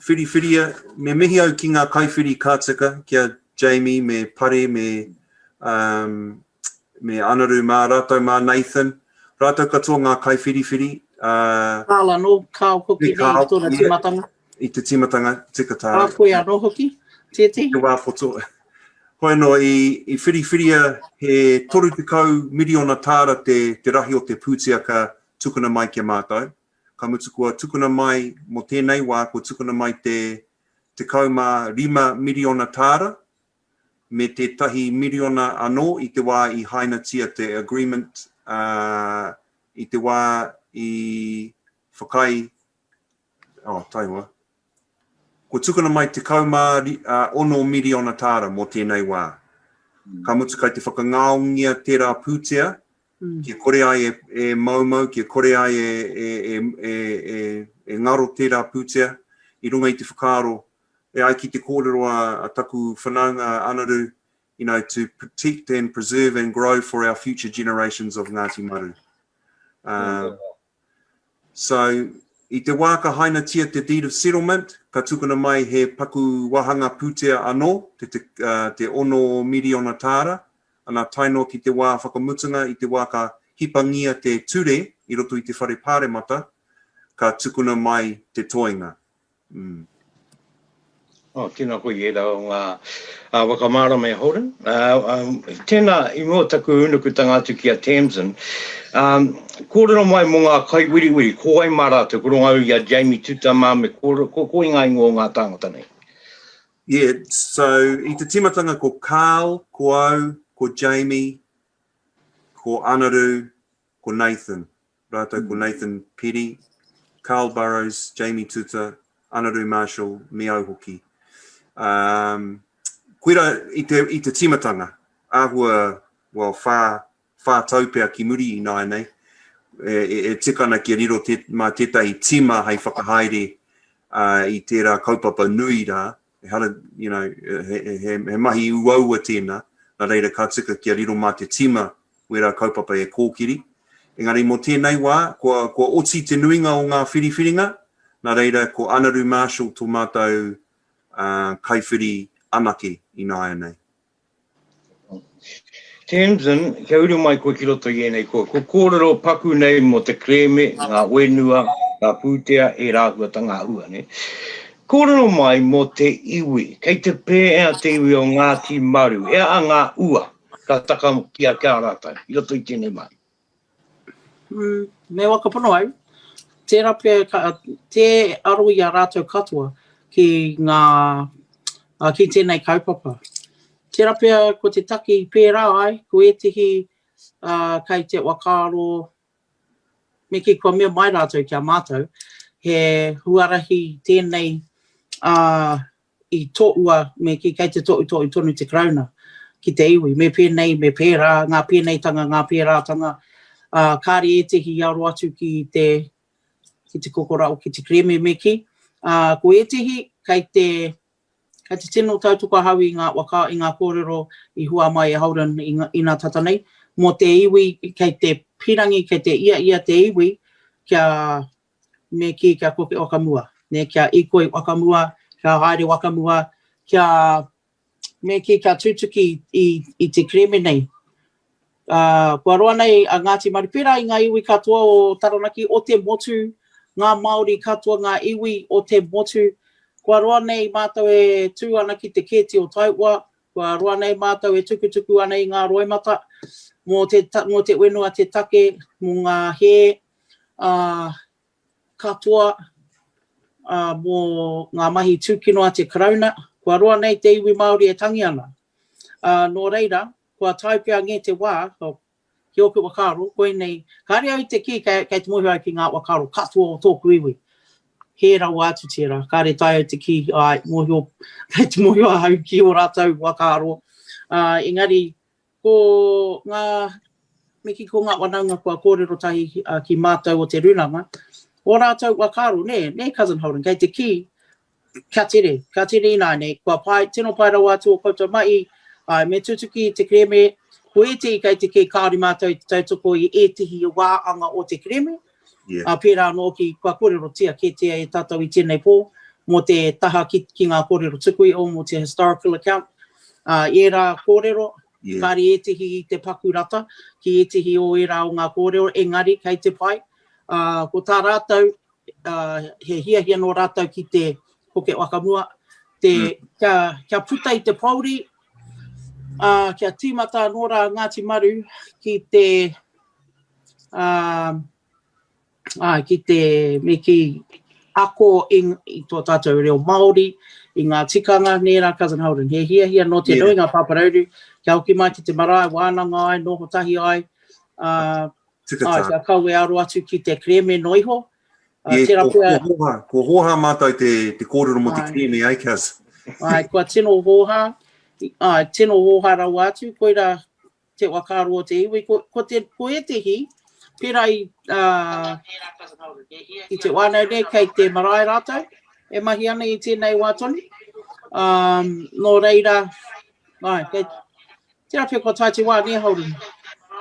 whiriwhiria, me mihi au ki ngā kaiwhiri ka tika, ki a Jamie, me Pare, me um, me Anaru mā rātou mā Nathan, rātou katoa ngā kaiwhiriwhiri, ā. Carl anō, Carl hoki nei i tōna tīmatanga. I te tīmatanga tika tā. Ā koe anō hoki, tētehi. Te wā poto. Hoi anō, i whiriwhiria he 30 miriona tāra te rahi o te pūtea ka tukuna mai ki a mātou, ka mutu kua tukuna mai mō tēnei wā, kua tukuna mai te 15 miriona tāra me tētahi miriona anō i te wā i hainatia te Agreement, ā, i te wā i whakaae, oh, taihoa, kua tukuna mai 16 miriona tāra mō tēnei wā. Ka mutu kai te whakangaongia tērā pūtea, kia kore ai e, e moumou, kia kore ai e, e, e, e, e, e ngaro tērā pūtea, i runga i te whakaaro E ai ki te kōrero a taku whanaunga Anaru, you know, to protect and preserve and grow for our future generations of Ngāti Maru. Um, so, i te wā ka hainatia te deed of settlement, ka tukuna mai he paku wāhanga pūtea anō, te, te, uh, te ono miriona tāra, ana taino ki te wā whakamutunga i te wā ka hipangia te ture i roto i te whare pāremata, ka tukuna mai te toinga. Oh, tēnā koe i ērā o ngā whakamārama e Holden. Tēnā i mua o taku ūnukutanga atu ki a Tamsin. Kōrero mai mō ngā kaiwiriwiri, ko wai mā rātou, ko runga au i a Jamie Tutama me kōrero, ko koe ngā ingoa o ngā tāngata nei? Yeah, so i te tīmatanga ko Carl, ko au, ko Jamie, ko Anaru, ko Nathan, rātou ko Nathan Peddie, Carl Burrows, Jamie Tuta, Anaru Marshall, me au hoki. Um, kuira i te, i te timatanga, āhua, well, whā, whā tau pea ki muri i nāi nei, e, e, e tikana kia riro te, mā tētahi tima hai whakahaere uh, i tērā kaupapa nui rā, Ehara, you know, he, he, he, he mahi uaua tēnā, nā reira ka tika kia riro mā te tima wērā kaupapa e kōkiri. Engari mō tēnei wā, kua, kua oti te nuinga o ngā whiriwhiringa, nā reira ko Anaru Marshall tō mātou uh, kaiwhiri anake ināianei. Tamsin, kia uru mai koe ki roto i ēnei kō. Ko kōrero paku nei mō te kerēme, ngā whenua, ngā pūtea, ērā āhuatanga āhua, nē. Kōrero mai mō te iwi, kei te pēhea te iwi o Ngāti Maru, he aha ngā ua ka taka ki a, ki a rātou i roto i tēnei mahi? Me whakapono au, tērā pea tē aro i a rātou katoa ki ngā, ki tēnei kaupapa. Tērā pea ko te taki pērā ai, ko ētehi kei te whakaaro, me kī kua mea mai rātou ki a mātou, he huarahi tēnei i toʻua me kī, kei te toʻutoʻu tonu te Karauna ki te iwi, me pēnei, me pērā, ngā pēneitanga, ngā pērātanga, ā, kāre ētehi i aro atu ki te, ki te kokoraʻo, ki te kerēme me kī. Ā, ko ētehi, kei te, kei te tino tautoko ahau i ngā waka, i ngā kōrero i hua mai e Holden i, inā tata nei, mō te iwi, kei te pīrangi, kei te ia ia te iwi kia me kī kia koke whakamua, nē, kia ikoi whakamua, kia haere whakamua, kia, me kī kia tūtuki i, i te kereme nei. Ā, kua roa nei a Ngāti Maru, pērā i ngā iwi katoa o Taranaki, o te motu, ngā Māori katoa, ngā iwi o te motu, kua roa nei mātou e tū ana ki te kēti o Taihoa, kua roa nei mātou e tukutuku ana i ngā roimata mō te, mō te whenua, te take, mō ngā hē, ā, katoa ā, mō ngā mahi tūkino a te Karauna, kua roa nei te iwi Māori e tangi ana. Ā, nō reira, kua tae pea ngē te wā, ki ōku whakaaro, koinei, kāre au te kī kei, kei te mōhio au ki ngā whakaaro katoa o tōku iwi. Hē rawa atu tērā, kāre tae au te kī, āe, mōhio, kei te mōhio ahau ki ō rātou whakaaro, ā, engari, Ko ngā me ki ko ngā wanaunga kua kōrero tahi ki mātou o te runanga, o rātou wa karo, nē, nē Cousin Holden, kei te kī, kia tere, kia tere ināinei, kua pae, tino pae rawa atu o koutou mahi, āe, me tutuki te kereme, ko ētehi kei te kī kāore mātou i te tautoko i ētehi wā anga o te kereme, ā, pērā anō hoki kua kōrerotia kētia e tātou i tēnei pō mō te taha ki ki ngā kōrero tuku iho mō te historical account, ā, i ērā kōrero, kāre ētehi i te paku rata ki ētehi o ērā o ngā kōrero, engari kei te pai, ā, ko tā rātou, ā, he hiahia nō rātou ki te Pukét Whakamua, te, kia, kia puta i te pōuri, ā, kia tīmata anō rā Ngāti Maru ki te ki te, me kī, ako i tō tātou reo Māori, i ngā tikanga, nē rā Cousin Holden, he hiahia nō te nuinga pāparauru kia hoki mai ki te marae, wānanga ai, noho tahi ai, kia kawe aro atu ki te kerēme noa iho. Tērā pea. Kua hōhā mātou te kōrero mō te kerēme, ai Cous? Ai, kua tino hōhā, tino hōhā rawa atu, koirā, te whakaaro o te iwi, ko, ko, te, ko ētehi, pērā i, uh, i te wānau nei, kei te marae rātou, e mahi ana i tēnei wā tonu. Um, nō reira, ai, kei, tērā pia kua tae te wā, nē Holden?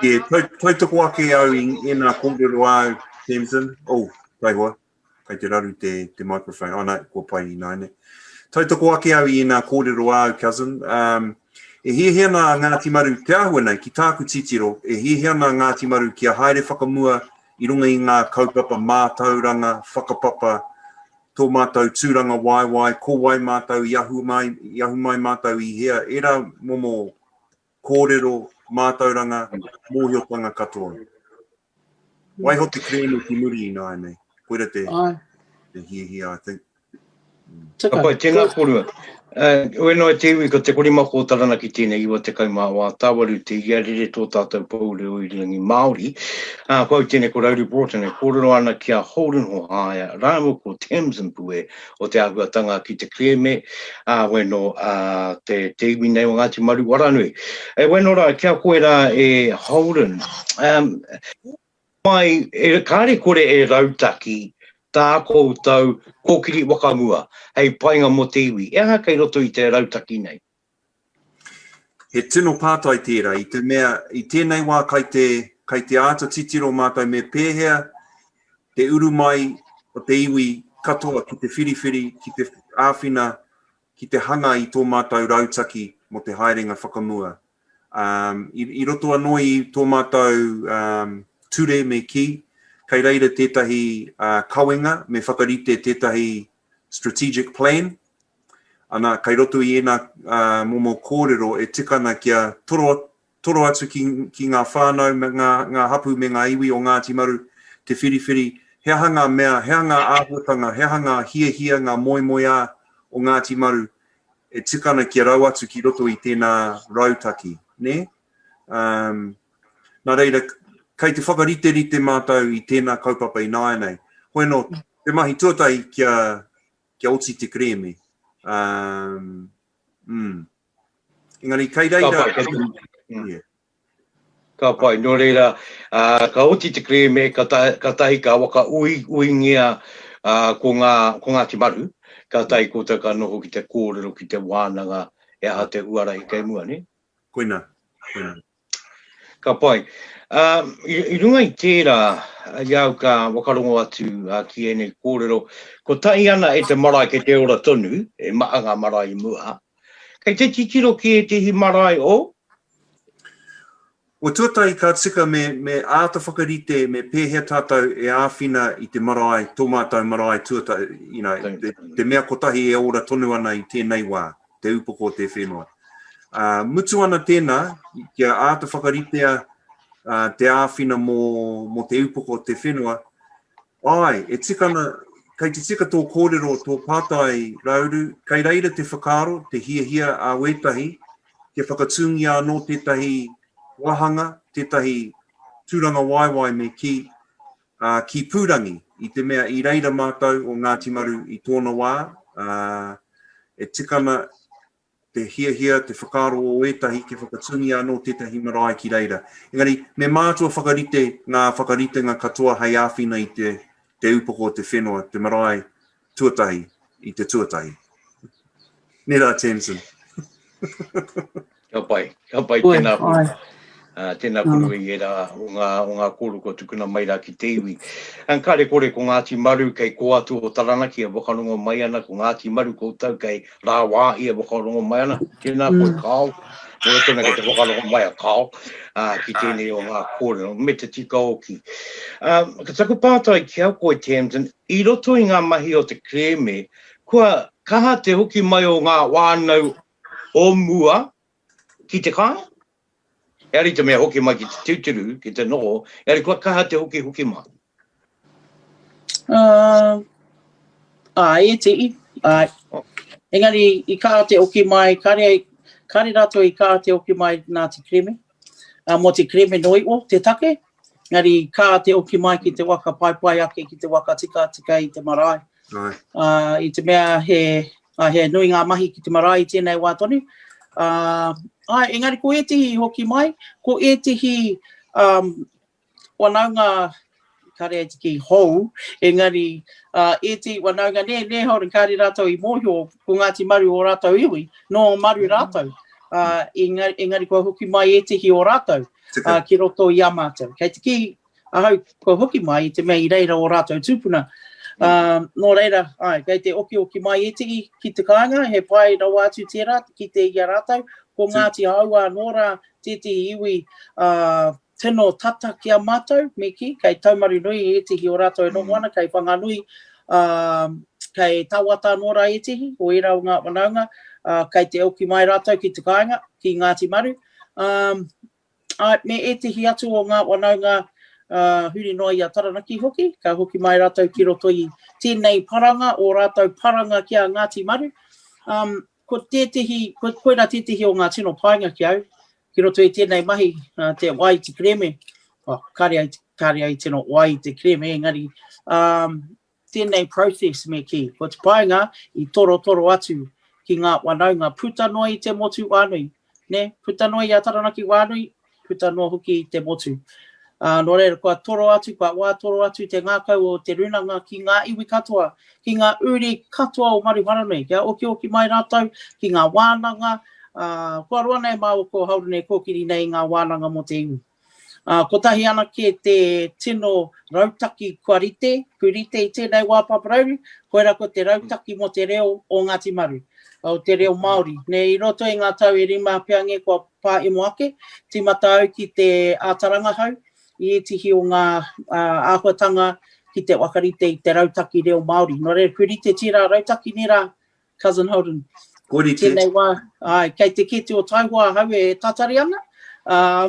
Yeah, tau, tau toko ake au i ēnā kōrero āu, Tamsin. Oh, taihoa. Kai te raru te, te microphone. Ana, oh, kua pai ināiane. Tautoko ake au i ina kōrero āu, cousin. Um, e hiahia ana a Ngāti Maru, te āhua nei, ki tāku titiro, e hiahia ana a Ngāti Maru ki a haere whakamua i runga i ngā kaupapa mātauranga, whakapapa, tō mātou tūranga waiwai, ko wai mātou i ahu mai, i ahu mai mātou i hea, era momo kōrero, mātauranga, mōhiotanga katoa. Waiho te kerēme ki muri ināianei. Koira te, te hiahia, I think. Tika. Apai, tēnā kōrua. Uh, when I te iwi, ko te korima kō taranaki tēnei iwa te kai mā wā tāwaru te ia rere tō tātou pou reo i riangi Māori. Uh, ko au tēnei ko Rauri Broughton e kōrero ana ki a Holden Hohaia, rāua ko Tamsin Pue, o te āhuatanga ki te kerēme, ā, wai nō te iwi nei o Ngāti Maru Waranui. E wai nō rā, ki a koe rā e Holden, mai, kāre kore e rautaki tā koutou kōkiri whakamua hei painga mō te iwi, he aha kei roto i te rautaki nei? He tino pātai tērā, i te mea, i tēnei wā kai te, kai te āta titiro mātou me pēhea te uru mai o te iwi katoa ki te whiriwhiri, ki te āwhina, ki te hanga i tō mātou rautaki mō te haerenga whakamua. Um, i, i roto anō i tō mātou um, ture me kī, kei reira tētahi uh, kawenga, me whakarite tētahi Strategic Plan, ana, kai roto i ēnā momo kōrero e tika ana kia toro, toro atu ki, ki ngā whānau, me ngā, ngā hapū me ngā iwi o Ngāti Maru te whiriwhiri, he aha ngā mea, he aha ngā āhuatanga, he aha ngā hiahia, ngā moemoeā o Ngāti Maru e tika ana kia rau atu ki roto i tēnā rautaki, nē? Umm. Nā reira, kei te whakariterite mātou i tēnā kaupapa ināianei. Hoi anō, te mahi tuatahi kia, kia oti te kerēme. Um, mm. Engari, kei reira... Ka pai, mm. yeah. ka pai. Nō reira, uh, ka oti te kerēme, ka, ta, ka tahi ka waka ui, uingia uh, ko, ngā, ko Ngāti Maru, ka tahi koutou ka noho ki te kōrero, ki te wānanga, e aha te huarahi kei mua, ne? Koina, koina. Ka pai. Ā, i runga i tērā, i a au ka whakarongo atu ki ēnei kōrero, kua tae ana e te marae kei te ora tonu, e maha ngā marae i mua, kei te titiro ki ētehi marae o? O tuatahi ka tika me, me āta whakarite me pēhea tātou e āwhina i te marae, tō mātou marae tuatahi, you know, te, te mea kotahi e ora tonu ana i tēnei wā. te upoko o te whenua. Uh, mutu ana tēnā, kia āta whakaritea uh, te āwhina mō, mō te upoko o te whenua, ai, e tikana, kei te tika tō kōrero, tō pātai rauru, kei reira te whakaaro, te hiahia a wētahi, kia whakatūngia anō tētahi wāhanga, tētahi tūranga waiwai me ki, ā, ki Pūrangi, i te mea i reira mātou o Ngāti Maru i tōna wā, ā, e tika ana te hiahia, te whakaaro o ētahi kia whakatūngia anō tētahi marae ki reira. Engari, me mātua whakarite ngā whakaritenga katoa hei āwhina i te, te upoko o te whenua, te marae, tuatahi i te tuatahi. Nē rā, Tamsin. Ka pai, ka pai tēnā kōrua. Uh, tēnā kōrua i era o ngā, o ngā kōrua kua tukuna mai rā ki te iwi. An ka rekore ko Ngāti Maru kei kō atu o Taranaki e wakarongo mai ana, ko Ngāti Maru koutou kei rāwā i e wakarongo mai ana. Tēnā mm. koe kāo, koe tēnā kei te wakarongo mai a kāo uh, ki tēnei o ngā kōrua, me te tika oki. Um, ka taku pātai ki au koe Tamsin, I roto i ngā mahi o te kerēme, kua kaha te hoki mai o ngā whānau o mua ki te kāinga, engari te mea hoki mai ki te tūturu, ki te noho, engari kua kaha te hoki hoki mai. Ā, ā, e tii, āe. Engari i kaha te hoki mai, kāre, kāre rātou i kaha te hoki mai nā te kerēme, ā, mō te kerēme noa iho te take, Engari kā te oki mai ki te waka paepae ake ki te waka tikatika i te marae. Ā, i te mea he, ā, he nui ngā mahi ki te marae i tēnei wā tonu. Ā, āe, engari ko ētehi i hoki mai, ko ētehi, ā, wanaunga, kāre ai te kī hou, engari, ā, ētehi wanaunga nē, nē haora kāre rātou i mōhio ko Ngāti Maru ō rātou iwi, nō Maru rātou. Ā, engari, engari kua hoki mai ētehi o rātou. ā, ki roto i a mātou. Kei te kī ahau kua hoki mai i te mea i reira ō rātou tūpuna. Ā, nō reira, āe, kei te okioki mai ētehi ki te kāinga, he pai rawa atu tērā te kite i a rātou, ko Ngāti Hāua anō rā tētehi iwi, ā, tino tata ki a mātou, me kī, kei Taumarunui ētehi o rātou e noho ana, kei Whanganui, ā, kei Tawata anō rā ētehi o ērā o ngā whanaunga, ā, kei te oki mai rātou ki te kāinga, ki Ngāti Maru, ā, ā, me ētehi atu o ngā whanaunga, ā, huri noa i a Taranaki hoki, ka hoki mai rātou ki roto i tēnei paranga, ō rātou paranga ki a Ngāti Maru. Ā, ko tētehi, ko, koirā tētehi o ngā tino painga ki au, ki roto i tēnei mahi, ā, te wā i te kerēme, oh, kāre ai, kāre ai tino wā i te kerēme, engari, ā, Tēnei process me kī, ko te painga i torotoro atu ki ngā whanaunga puta noa i te motu whānui, nē, puta noa i a Taranaki whānui, puta noa hoki i te motu. Ā, nō reira, kua toro atu, kua wātoro atu te ngākau o te rūnanga ki ngā iwi katoa, ki ngā uri katoa o Maruharanui, kia okioki mai rātou ki ngā wānanga, ā, kua roa nei māua ko Haurune kōkiri nei i ngā wānanga mō te iwi. Ā, kotahi anake te tino rautaki kua rite, kui rite i tēnei wā paparauru, koirā ko te rautaki mō te reo o Ngāti Maru, o te reo Māori. Nei i roto i ngā tau e rima peange kua pāemo ake, tīmata au ki te ātarangahau i ētihi o ngā āhuatanga ki te whakarite i te rautaki reo Māori. Nō reira, kui rite tērā rautaki nei rā, Cousin Holden. Ko rite. Tēnei wā, ai, kei te kete o Taihoa ahau e tatari ana, uh,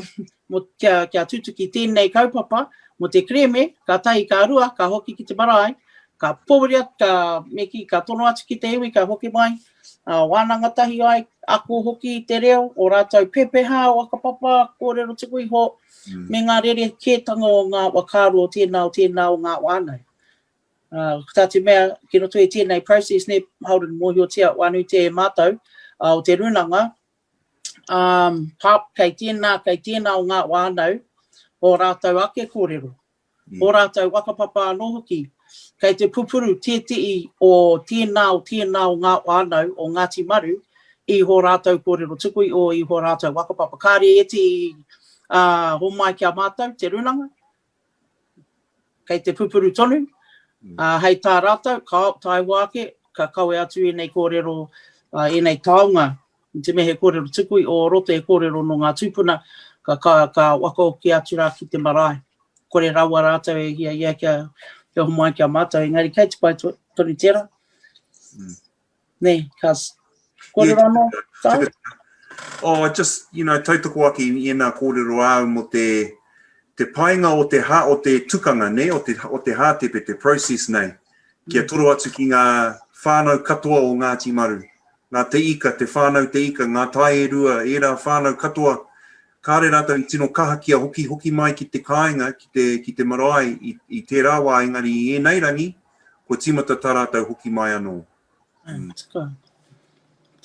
kia, kia tutuki tēnei kaupapa, mo te kreme, ka tahi, ka rua, ka hoki ki te marae, ka poweri atu, ka meki, ka tono atu ki te iwi, ka hoki mai, uh, wānanga tahi ai, ako hoki te reo, o rātou pepeha, o akapapa, kōrero tuku iho, mm. me ngā rere kētanga o ngā wakāro o tēnā, o tēnā, o ngā wānau. Ko tā te mea, ki roto i tēnei process nei, Holden, mōhiotia anō te e mātou o te rūnanga, kei tēnā, kei tēnā o ngā whānau, ō rātou ake kōrero, ō rātou whakapapa anō hoki, kei te pupuru tētehi o tēnā, o tēnā o ngā whānau o Ngāti Maru i hō rātou kōrero tuku, i hō rātou whakapapa. Kāre ētehi homai ki a mātou te rūnanga, kei te pupuru tonu, ā, hei tā rātou, ka taewa ake, ka kawe atu ēnei kōrero, ā, ēnei taonga, i te mea he kōrero tuku i o roto, he kōrero nō ngā tūpuna, ka, ka, ka wakaoki atu rā ki te marae. Kore rawa rātou e hiahia kia, kia homai ki a mātou, engari kei te pai tonu tērā. Nē, ka kōrero anō tāu? Oh, just, you know, tautoko ake i ēnā kōrero āu mō te, te painga o te hā, o te tukanga, nē, o te, o te hātepe, te process nei, kia mm. toro atu ki ngā whānau katoa o Ngāti Maru, ngā te ika, te whānau te ika, ngā tae e rua, ērā whānau katoa, kāre rātou i tino kaha kia hoki hoki mai ki te kāinga, ki te, ki te marae i, i tērā wā, engari i ēnei rangi, Kua tīmata tā rātou hoki mai anō. Mm. Taka.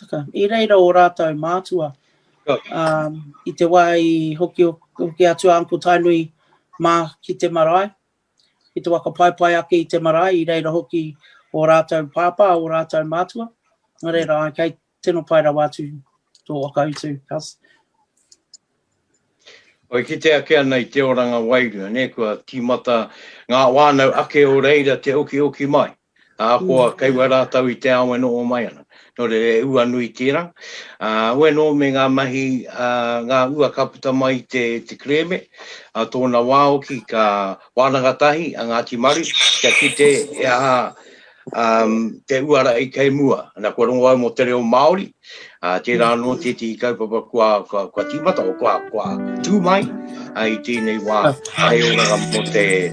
Taka. I reira o rātou mātua. Um, I te wā i hoki, hoki atu a Uncle Tainui mā ki te marae. Ki te waka pai pai ake i te marae. I reira hoki o rātou pāpā, o rātou mātua. Nā reira, kei, Tino pai rawa atu to whakautu. Oi kite ake ana i te oranga wairua, ne, kua timata nga wānau ake o reira te okioki mai, ahakoa mm. kei wa rātau i te ao e noho mai ana. Nō re re ua nui tērā. Uh, ue nō me ngā mahi, uh, ngā ua ka puta mai te, te kreme, a uh, tōna wāoki ka wānanga tahi a Ngāti Maru, kia kite e aha te uara i kei mua. Ana, kua rongo au mo te reo Maori, tera ano tetihi kaupapa kua timata, kua tu mai i tenei wa, hai oranga mo te,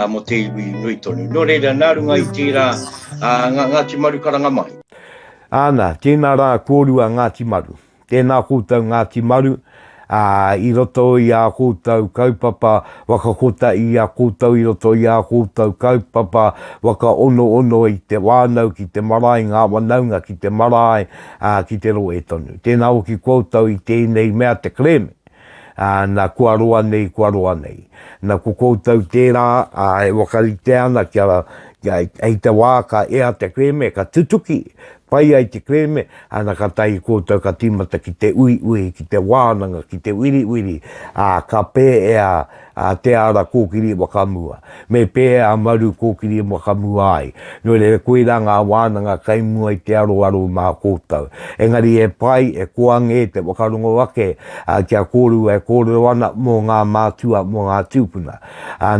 mo te iwi nui tonu. No reira, na runga i tera, nga Ngati Maru karanga mai. Ana, tena ra korua Ngati Maru. Tēnā koutou Ngāti Maru, ā, i roto i ā koutou kaupapa whakakota i a koutou i roto i ā koutou kaupapa whakaonoono i te whānau ki te marae, ngā whanaunga ki te marae, ā, ki te rohe tonu. Tēnā hoki koutou i tēnei mea te kerēme. ā, na kua roa nei, kua roa nei. Na ko koutou tērā, ā, e whakarite ana kia, kia, hei te wā ka ea te kerēme, ka tutuki, pai ai te kerēme, ana ka tahi koutou ka tīmata ki te uiui, ki te wānanga, ki te wiriwiri, ā, ka pēea a Te Ara kōkiri e whakamua, me pēhea a Maru kōkiri e whakamua ai. Nō reira, koirā ngā wānanga kai mua i te aroaro mā koutou. Engari he pai, he koa ngē te whakarongo ake kia kōrua e kōrero ana mō ngā mātua, mō ngā tūpuna.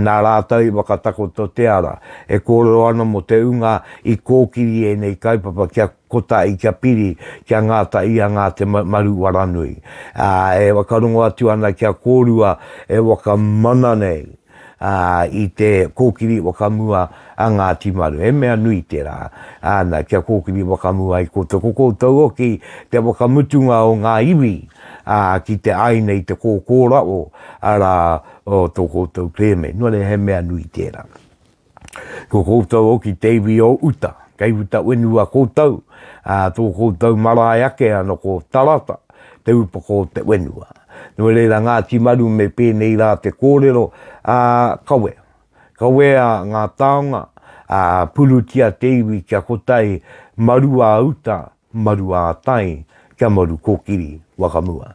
Nā rātou i whakatakoto te ara e kōrero ana mō te ūnga i kōkiri ēnei kaupapa kia. Ko tā Ika Piri, kia ngāta ia ngā te maru waranui, ā, e whakarongo atu ana kia kōrua e whakamana nei i te kōkiri whakamua a Ngāti Maru. He mea nui tērā, ā, nā, kia kōkiri whakamua ai koutou. Ko koutou hoki te whakamutunga o ngā iwi, ā, ki te āina i te kōkōraʻo, arā, o tō koutou kerēme. Nō reira, he mea nui tērā. Ko koutou hoki te iwi o uta, kei uta wenua koutou, ā, tō koutou marae ake anō ko Tarata, te upoko o te wenua. Nō reira Ngāti Maru me pēnei rā te kōrero, ā, kawe. Kawea ngā taonga, ā, purutia te iwi kia kotahi maru ā uta Maru ā-tai, kia maru kōkiri, whakamua.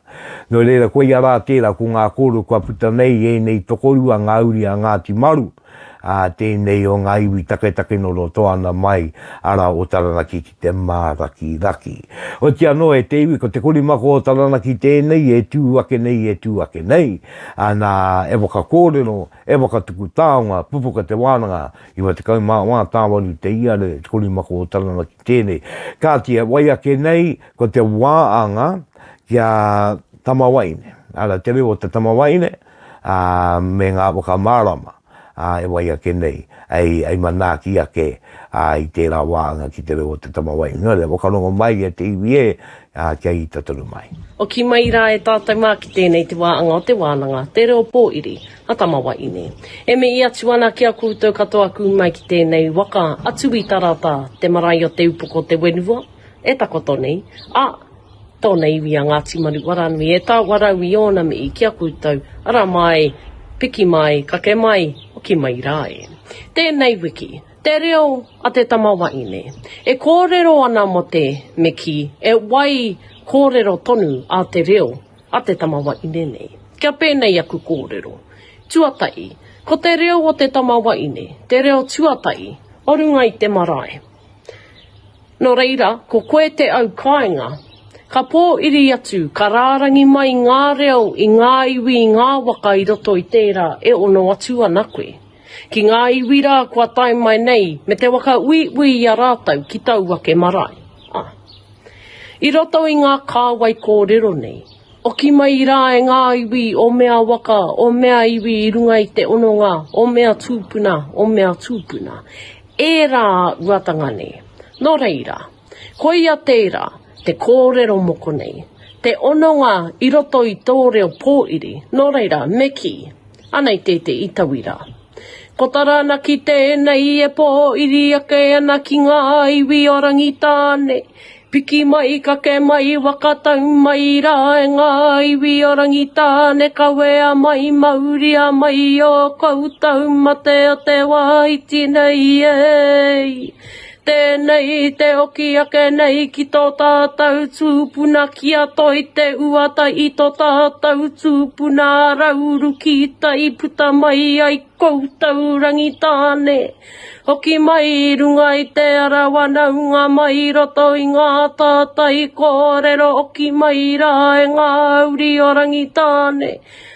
Nō reira, koia rā tērā, ko ngā kōrero kua puta nei i ēnei tokorua, ngā uri a Ngāti Maru, ā, tēnei o ngā iwi taketake nō roto ana mai, arā, o Taranaki ki te Mārakiraki. Oti anō, e te iwi, ko te korimako o Taranaki tēnei e tū ake nei, e tū ake nei, ā, nā, e whakakōrero, e whakatuku taonga, pupuka te wānanga, 94 tāwaru te iare, te korimako o Taranaki. Tēnei. Kāti, e wai ake nei, ko te wā anga ki a Tamawaine. Ara, te reo o te Tamawaine, ā, me ngā whakamārama, ā, e wai ake nei, hei, hei manaaki ake, ā, i tērā wā anga ki te reo o te Tamawaine. Nō reira, whakarongo mai e te iwi ē, ā, kia ita tonu mai. Hoki mai rā e tātou mā ki tēnei te wā anga o te wānanga, te reo pōiri. a Tamawaine. E mihi atu ana ki a koutou katoa ku mai ki tenei waka a Tuitarata, te marae o Te Upoko Te Wenua, e takoto nei, a tona iwi a Ngati Maru Waranui e taua rau i ona mihi ki a koutou, ara mai, piki mai, kake mai, hoki mai ra e. Tenei wiki, te reo a te Tamawaine, e korero ana mo te, me ki, e wai korero tonu a te reo, a te tama waine nei. Kia pēnei aku kōrero. Tuatahi, ko te reo o te tama waine, te reo tuatahi, o runga i te marae. Nō reira, ko koe te au kāinga, ka pōiri atu, ka rārangi mai ngā reo i ngā iwi, i ngā waka i roto i tērā e ono atu ana koe. Ki ngā iwi rā kua tae mai nei, me te waka uiui i a rātou ki tau ake marae. I roto i ngā kāwai kōrero nei, oki mai rā e ngā iwi o mea waka, o mea iwi i runga i te ononga o mea tūpuna, o mea tūpuna, ērā uatanga nei. Nō reira, koia tērā te kōrero moko nei, te ononga i roto i tō reo pōiri, nō reira, me kī, Anei tētehi tauira. Ko Taranaki tēnei e pōiri ake ana ki ngā iwi o Rangitāne. Piki mai, kake mai, waka tau mai rā e ngā iwi o Rangitāne, kawea mai, mauria mai ō koutou mate o te wā iti nei, e! Tēnei te oki ake nei ki tō tātou tūpuna ki a Toi Te Uata i tō tātou tūpuna Rauru ki tai puta mai ai koutou Rangitāne hoki mai i runga i te ara wanaunga mai i roto i ngā tātai kōrero oki mai rā e ngā uri o Rangitāne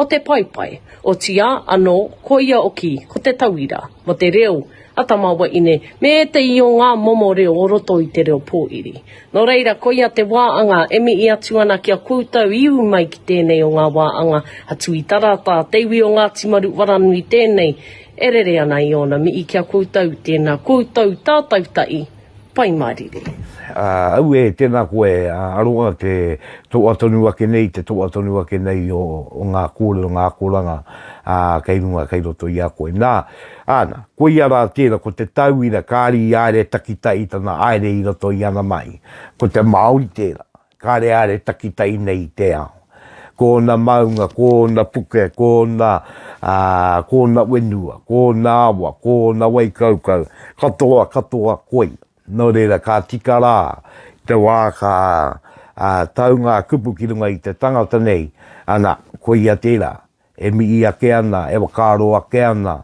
O te paepae, otiā anō ko ia oki ko te tauira mo te reo a tama waine me ētehi o ngā momo reo o roto i te reo pōiri. Nō reira koia te wā anga e mihi atu ana ki a koutou i ū mai ki tēnei o ngā wā anga a Tui Tarata, te iwi o Ngāti Maru Waranui tēnei e rere ana i ōna mihi ki a koutou tēnā koutou tātau tahi. Pai mārire. Auē, tēnā koe, aroha te toa tonu ake nei, te toa tonu ake nei o ngā kōrero, ngā akoranga kei runga, kei roto i a koe. Nā, āna, koia rā tērā, ko te tauira, kāri i āre takitahi tana aere i roto i ana mahi. Ko te Māori tērā. Kāre are takitai nei i te ao. Ko ōna maunga, ko ōna puke, ko ōna, ā, ko ōna whenua, ko ōna awa, ko ōna wai kaukau, katoa, katoa koi. Nō reira, ka tika rā te wā ka, ā, tau ngā kupu ki runga i te tangata nei, ana, koia tērā, E mihi ake ana, e whakaaro ake ana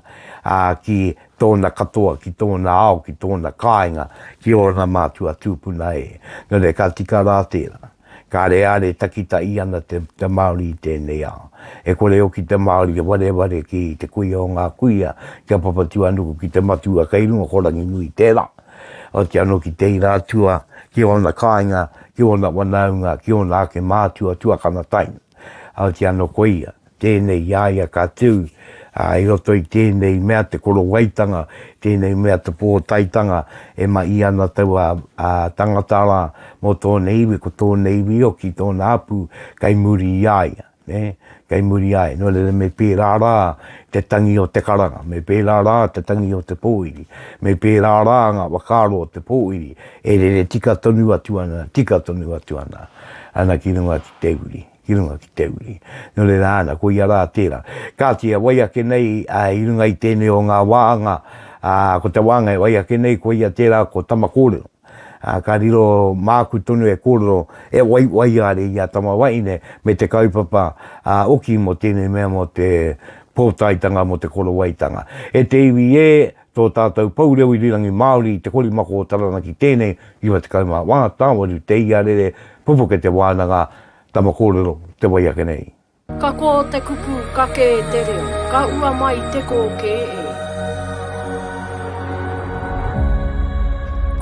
ki tōna katoa, ki tōna ao, ki tōna kāinga, ki ōna mātua tūpuna e. Nō reira, ka tika rā tērā. Kāre ā re takitahi ana te Māori i tēnei ao. E kore hoki te Māori e wareware ki te kuia o ngā kuia, ki a Papatūānuku, ki te matua kei runga, ko Ranginui tērā. Oti anō ki te ira atua, ki ōna kāinga, ki ōna wanaunga, ki ōna ake mātua tuakana taina. Heoti anō ko ia tēnei i a ia ka tū i roto i tēnei mea te korowaitanga, tēnei mea te pōtaetanga e mahi ana taua tangata rā mō tōna iwi, ko tōna iwi hoki, tōna hapū kei muri i a ia, kei muri i a ia. Nō reira me pērā rā te tangi o te karanga, me pērā rā te tangi o te pōwhiri, me pērā rā ngā whakaaro o te pōwhiri e rere tika tonu atu ana, tika tonu atu ana ki runga. te uri, ki runga ki te uri. Nō reira āna, ko ia rā tērā. Kāti, e wai ake nei i runga i tēnei o ngā wāhanga, ko te wāhanga e wai ake nei, ko ia tērā ko tama kōrero. Ka riro māku tonu e kōrero, e wai waiāre i a tama wahine me te kaupapa oki mō tēnei mea mō te pōtaetanga, mō te korowaitanga. E te iwi ē, tō tātou pou reo irirangi Māori i te korimako o Taranaki tēnei 91 tāwaru te iarere pupuke te wānanga tama kōrero te wai ake nei. Ka kō te kupu ka kē te reo, ka ua mai te kō kē e.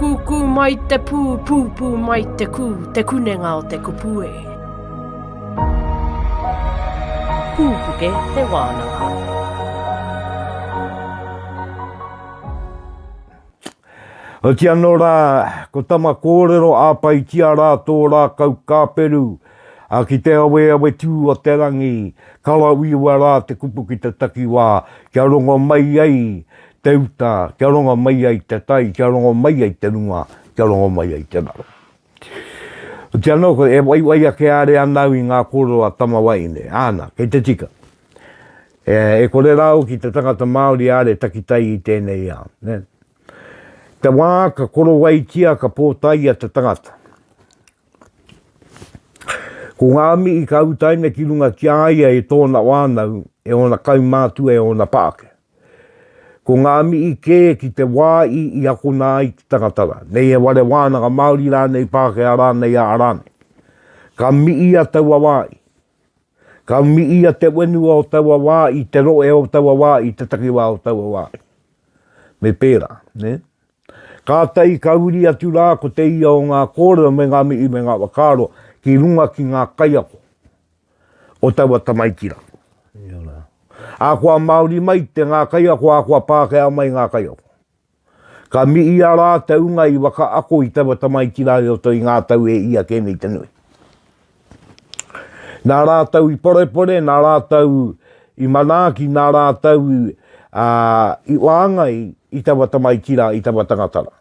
Kūkū mai te pū, pūpū mai te kū, te kunenga o te kupu e. Pūpuke te wānanga. Oti anō rā, ko tama kōrero āpaitia rā tō rākau kāperu, ā, ki te aweawe tū o te rangi, karawiwa rā te kupu ki te takiwā, kia rongo mai ai te uta, kia rongo mai ai te tai, kia rongo mai ai te runga, kia rongo mai ai te raro. Otirā anō koe, e waiwai ake are ana au i ngā kōrero a Tama Waeine, āna, kei te tika. E kore rā hoki te tangata Māori are takitai i tēnei ao. Te wā ka korowaitia, ka pōtaia te tangata. Ko ngā mihi ka utaina ki runga ki a ia e tōna wānau, e ōna kaumātua, e ōna pākehā. Ko ngā mihi kē ki te wā i, i akona ai te tangata rā, nei he ware wānanga Māori rānei, Pākehā rānei, ā rānei. Ka miia taua wā i. Ka miia te whenua o taua wā i, te rohe o taua wā i, te takiwā o taua wā i. Me pērā, nē? Kātahi ka uri atu rā ko te ia o ngā kōrero me ngā mihi me ngā whakaaro ki runga ki ngā kaiako. o taua tamaiti ra. Akoa Maori mai te nga kaiako akoa Pakea mai nga kaiako. Ka miia ra te unga i waka ako i taua tamaiti ra i roto i nga tau e ia ke nei te nui. Na ratou i porepore, na ratou i manaaki, na ratou i waangai i taua tamaiti ra, i taua tangata ra.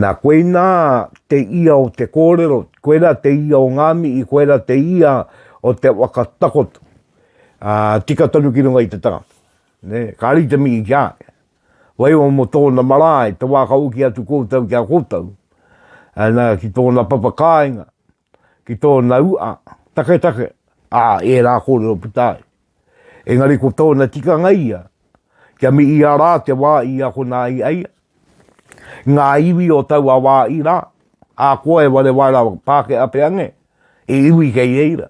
Nā, koinā te ia o te kōrero, koirā te ia o ngā mihi, koirā te ia o te waka takoto. Ā, tika tonu ki runga i te tangata. Nē, kāri te mihi ki a ia. Waiho mō tōna marae, te wā ka hoki atu koutou ki a koutou, ā, nā, ki tōna papakāinga, ki tōna ua, taketake, ā, ērā kōrero puta ai. Engari ko tōna tikanga ia, kia miia rā te wā i akona ai a ia. Ngā iwi o taua wā i rā, ā, koa e ware wai rawa, Pākehā pea nge, e iwi kei reira.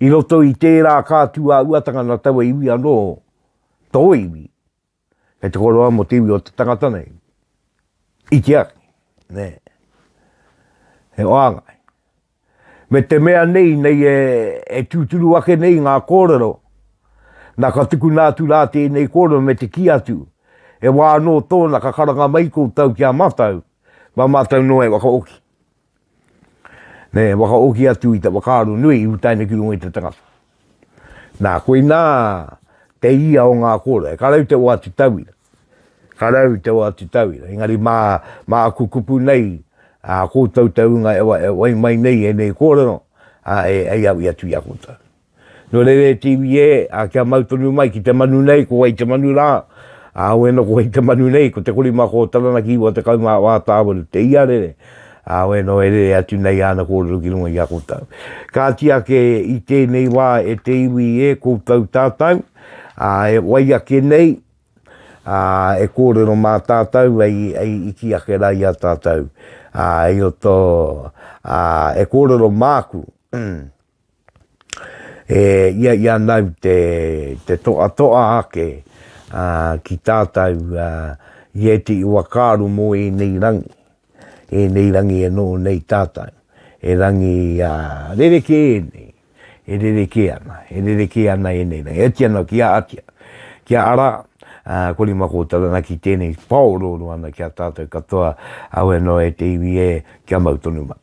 I roto i tērā ka tū ā uatanga nā taua iwi anō, tō iwi, kei te koroa mō te iwi o te tangata nei. I te aki, nē. He wāngai. Me te mea nei, nei e, e tūturu ake nei ngā kōrero, nā ka tukuna atu rā tēnei kōrero me te kī atu, e wā anō tōna ka karanga mai koutou ki a mātou, mā mātou noa e whakahoki. Me whakahoki atu i te whakaaro nui i puta ana ki runga i te tangata. Nā, koinā te ia o ngā kōrero. Ka rau te o atu tauira. Ka rau te o atu tauira. Engari mā, mā aku kupu nei, ā, koutou te ūnga e wai mai nei ēnei kōrero, ā, e, e au i atu i a koutou. Nō reira e te iwi ē, ā, kia mau tonu mai ki te manu nei, ko wai te manu rā? Ā, auē nō ko wai te manu nei, ko Te Korimako o Taranaki iwa tekau mā wā tāwaru te iarere, ā, auē nō e rere atu nei āna kōrero ki runga i a koutou. Kāti ake i tēnei wā e te iwi ē koutou tātou, ā, e wai ake nei, ā, e kōrero mā tātou hei, hei iti ake rā i a tātou, ā, hei o tō, ā, e kōrero māku, E ia i a nau te, te toa toa ake a, ki tātau a, i eti i wakaaro mō ēnei rangi, ēnei rangi e noho nei tātau, he rangi a, rerekē ēnei, e rerekē ana, e rerekē ana ēnei rangi. E oti ana ki a Atia, ki a Ara, a, kore ma koutou ana ki tēnei pāorooro ana ki a tātau katoa, awe noa e te iwi e, kia mau tonu mai.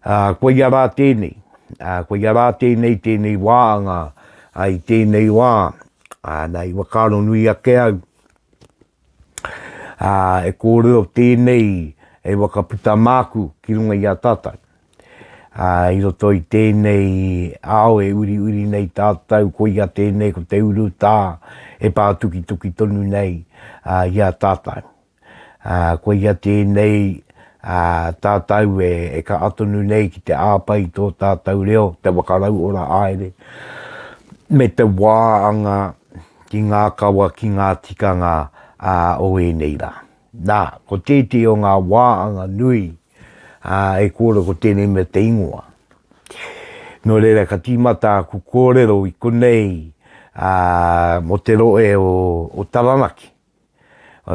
Ā, ko ia rā tēnei, ā, ko ia rā tēnei tēnei wā anga, ā, i tēnei wā, ā, nā, i whakaaro nui ake au, ā, e kōrero tēnei hei waka puta māku ki runga i a tātou. Ā, i roto i tēnei ao e uriuri nei tātou, ko ia tēnei, ko te urutā e pātukituki tonu nei, ā, i a tātou. ā, koia tēnei, ā, tātou e, e kaha tonu nei ki te āpa i tō tātou reo, te whakarauora haere, me te wā anga ki ngā kawa, ki ngā tikanga, ā, o ēnei rā. Nā, ko tētehi o ngā wā anga nui, ā, e kōrero ko tēnei mea te ingoa. Nō reira, ka tīmata aku kōrero i konei, ā, mō te rohe o, o Taranaki.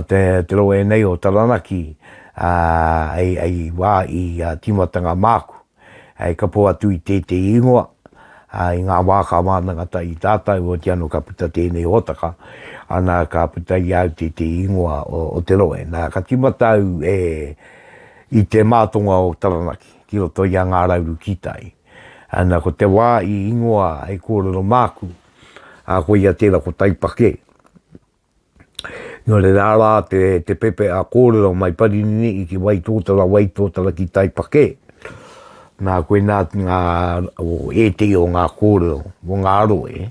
te rohe nei o Taranaki hei wā i tīmatanga māku. Ka pō atu i tētehi ingoa, i ngā wā ka mātanga atu i tātou, otirā anō ka puta tēnei hōtaka, ana ka puta i a au tētehi ingoa o te rohe. Nā, ka tīmata au i te mātonga o Taranaki, ki roto i a Ngā Rauru Kītai. Ana, ko te wā i ingoa hei kōrero māku, koia tērā ko Taipakē. Nō reira, arā te, te pepeha kōrero mai Parinini i ki Waitōtara, Waitōtara ki Taipakē. Nā, koinā ngā, o ētehi o ngā kōrero, o ngā rohe,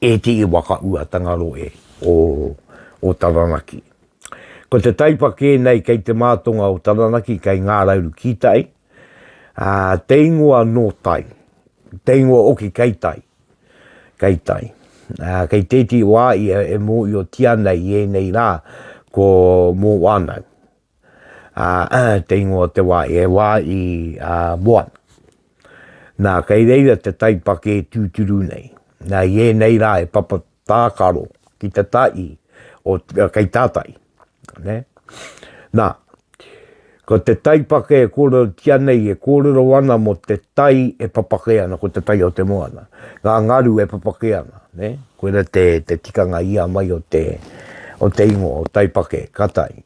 ētehi whakauatanga rohe o, o Taranaki. Ko te Taipakē nei kei te mātonga o Taranaki, kei Ngā Rauru ki tai, ā, te ingoa nō tai, te ingoa hoki kei tai. Kei tai. Ā, kei tētehi wā ia e mōhiotia ana i ēnei rā ko Mōanau. Ā, te ingoa o te wā, he wā i a, Moana. Nā, kei reira te taipakē tūturu nei. Nā, i ēnei rā he papa tākaro ki te tahi o, kei tā tahi. Nē? Nā, ko te taipake e kōrero ki a nei, e kōrero ana mō te tai e papake ana, ko te tai o te moana. Ngā ngaru e papake ana, nē? Koira te, te tikanga i a mai o te, o te ingoa, o taipake, ka tai.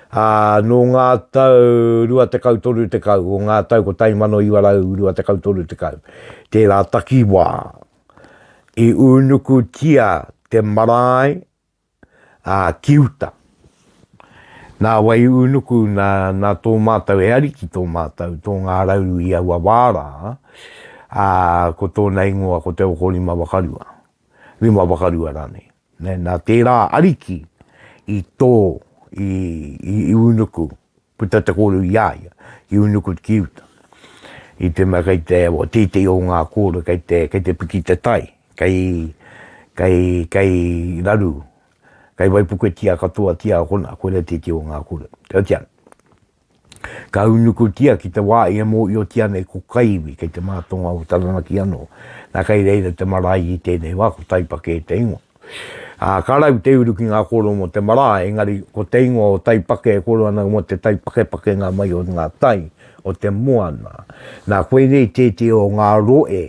Ā, nō ngā tau 20 tekau, 30, o ngā tau 1920 30, tērā takiwā, i unukutia te marae ā, ki uta. Nā wai ū nuku, nā, nā tō mātou he Ariki tō mātou, tō Ngā Rauru i aua wā rā, ā, ko tōna ingoa ko te okorima wakarua, rima wakarua rānei. Nē, nā tērā Ariki i tō, i, i, i ū nuku, Puta te kōrero i a ia, i Unukut ki uta. I te mea kei te, o tētehi o ngā kōrero kei te, kei te piki te tai, kei, kei, kei raru, kei waipuketia katoatia kona, koira tētehi o ngā kōrero. Kei te ana. Ka unukutia ki te wā i e mōiotia nei ko Kaiwi, kei te mātonga o Taranaki anō. Nā kei reira te marae i tēnei wā, ko Taipake te ingoa. Ā, ka rau te uru ki ngā kōrero mō te marae, engari ko te ingoa o Taipake e kōrero ana mō te taipakepakenga mai o ngā tai o te moana. Nā, koinei tētehi o ngā rohe,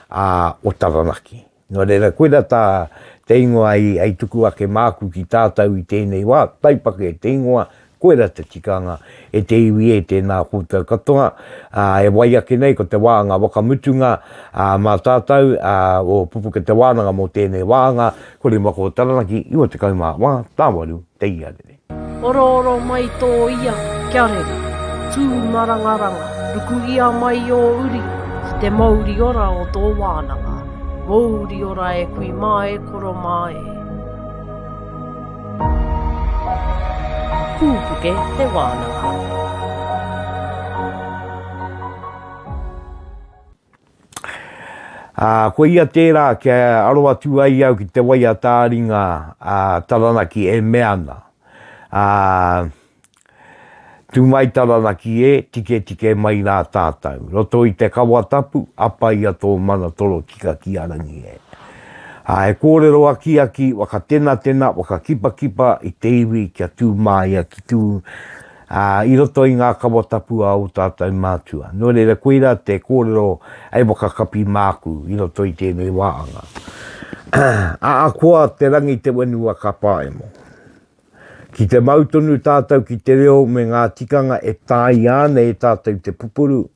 ā, o Taranaki. Nō reira, koirā tā te ingoa i, i tuku ake māku ki tātou i tēnei wā, Taipake te ingoa, Koira te tikanga, e te iwi e, tēnā koutou katoa, ā, e wai ake nei ko te wānga wakamutunga, ā, mā tātou, ā, o Pupuke Te Wānanga mō tēnei wānga, ko Rimakō Taranaki, 94, Tāwaru, Te Iarere. Orooro mai tō ia, kia rere. Tū marangaranga, rukuhia mai ō uri ki te mouri ora o tō wānanga. Mouri ora e kui mā e koro mā e. Kūpuke te wānanga. Ā, ko ia tērā kia aro atu ai au ki te wai a Tāringa, ā, Taranaki e mea ana, ā, Tu mai Taranaki e, tiketike mai ra tatou. Roto i te kawa tapu, apa ia to mana toro tika ki a Rangi e. A he korero akiaki, wakatenatena, wakakipakipa i te iwi kia tu maia ki tu a, i roto i nga kawa tapu a o tatou matua. No reira koira te korero hei wakakapi maku i roto i tenei waanga. Aakoa te rangi te wenua ka paemo. Ki te mau tonu tātou ki te reo me ngā tikanga e tāia ana e tātou i te pupuru,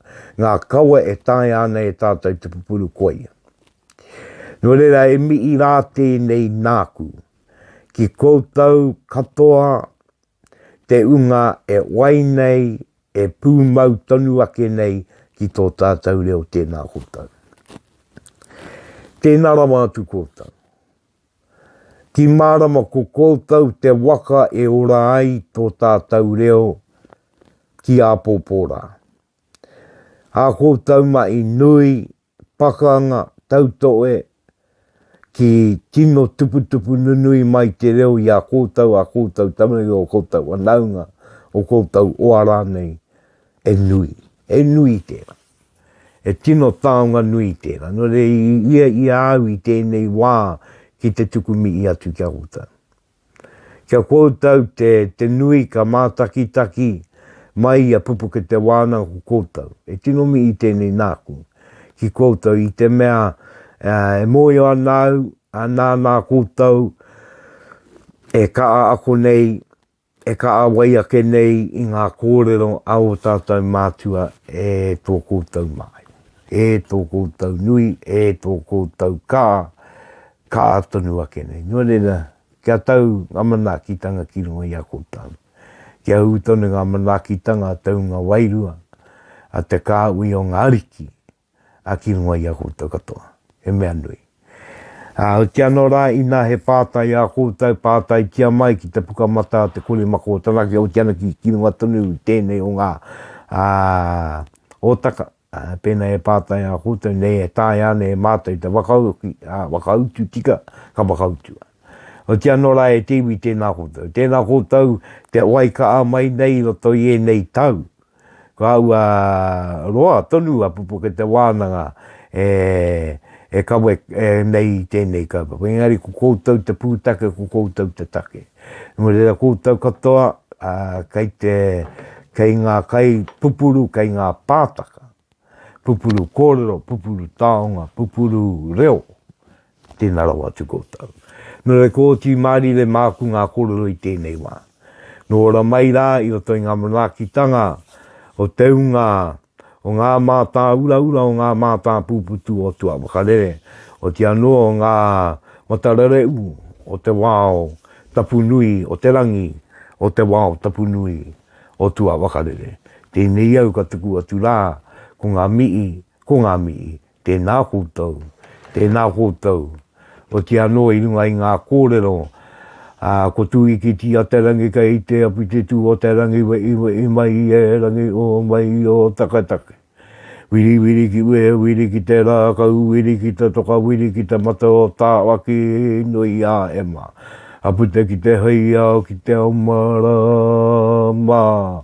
ngā kawa e taea ana e tātou te pupuru koia. Nō reira e mihi rā tēnei nāku ki koutou katoa te unga e wai nei, e pūmau tonu ake nei ki tō tātou reo tēnā koutou. Tēnā rawa atu koutou. Ki mārama ko koutou te waka e ora ai tō tātou reo ki āpōpō rā. Ā koutou mahi nui, pakanga, tautohe, ki tino tuputupu nunui mai te reo i a koutou, ā koutou tamaiti, ō koutou whanaunga, ō koutou oā rānei, he nui, he nui tērā. He tino taonga nui tērā, nō reira i ia i a au i tēnei wā ki te tuku mihi atu ki a koutou. Ki a koutou te, te nui ka mātakitaki mai i a Pupukete wānanga ko koutou. He tino mihi tēnei nāku ki koutou i te mea e mōhio ana au, nānā koutou e kaha ako nei E kaha wai ake nei i ngā kōrero a ō tātou mātua e tō koutou māi, e tō koutou nui, e tō koutou kā, kā tonu ake nei. Nō reira, kia tau ngā manaakitanga ki runga i a koutou. Kia ū tonu ngā manaakitanga a te hunga wairua, a te kāhui o ngā ariki, a ki runga i a koutou katoa, he mea nui. Ā, hoki anō rā, inā he pātai i a koutou, pātaitia mai ki te puka matā o te kore maka o Taranaki, hoki anō ki, ki runga tonu i tēnei o ngā, ā, hōtaka, ā, pēnā e pātai i a koutou, nei e taea ana e mātou te whakauki, ā, whakautu tika, ka whakautu. Hoki anō rā e te iwi, tēnā koutou. Tēnā koutou, te wai kaha mai nei i roto i ēnei tau, Ka ua roa tonu a Pupukete Wānanga e kawe nei i tēnei kaupapa. Engari ko koutou te pūtake, ko koutou te take. Nō reira koutou katoa kei ngā kai pupuru, kei ngā pātaka, pupuru kōrero, pupuru taonga, pupuru reo, Tēnā rawa atu koutou. Nō reira ko oti mārire māku ngā kōrero i tēnei wā. Nō ora mai rā i roto i ngā manaakitanga o te ūnga o ngā mātāuraura, o ngā mātāpūputu o tua whakarere, oti anō ngā matarereu o te wao tapu nui o te rangi, o te wao tapu nui o tua whakarere. Tēnei au ka tuku atu rā ko ngā mihi, ko ngā mihi Tēnā koutou, tēnā koutou. Otiia anō i runga i ngā kōrero, ā, ko Tūikitī a te rangi kei te api te tū o te rangi weʻiweʻi mai i e rangi ō mai i ō taketake. Wiriwiri ki ue wiri ki te rā kau wiri ki te toka wiri ki te mata o Tāwaki nui a Emma. A puta ki te heiao ki te ao mā rā, mā.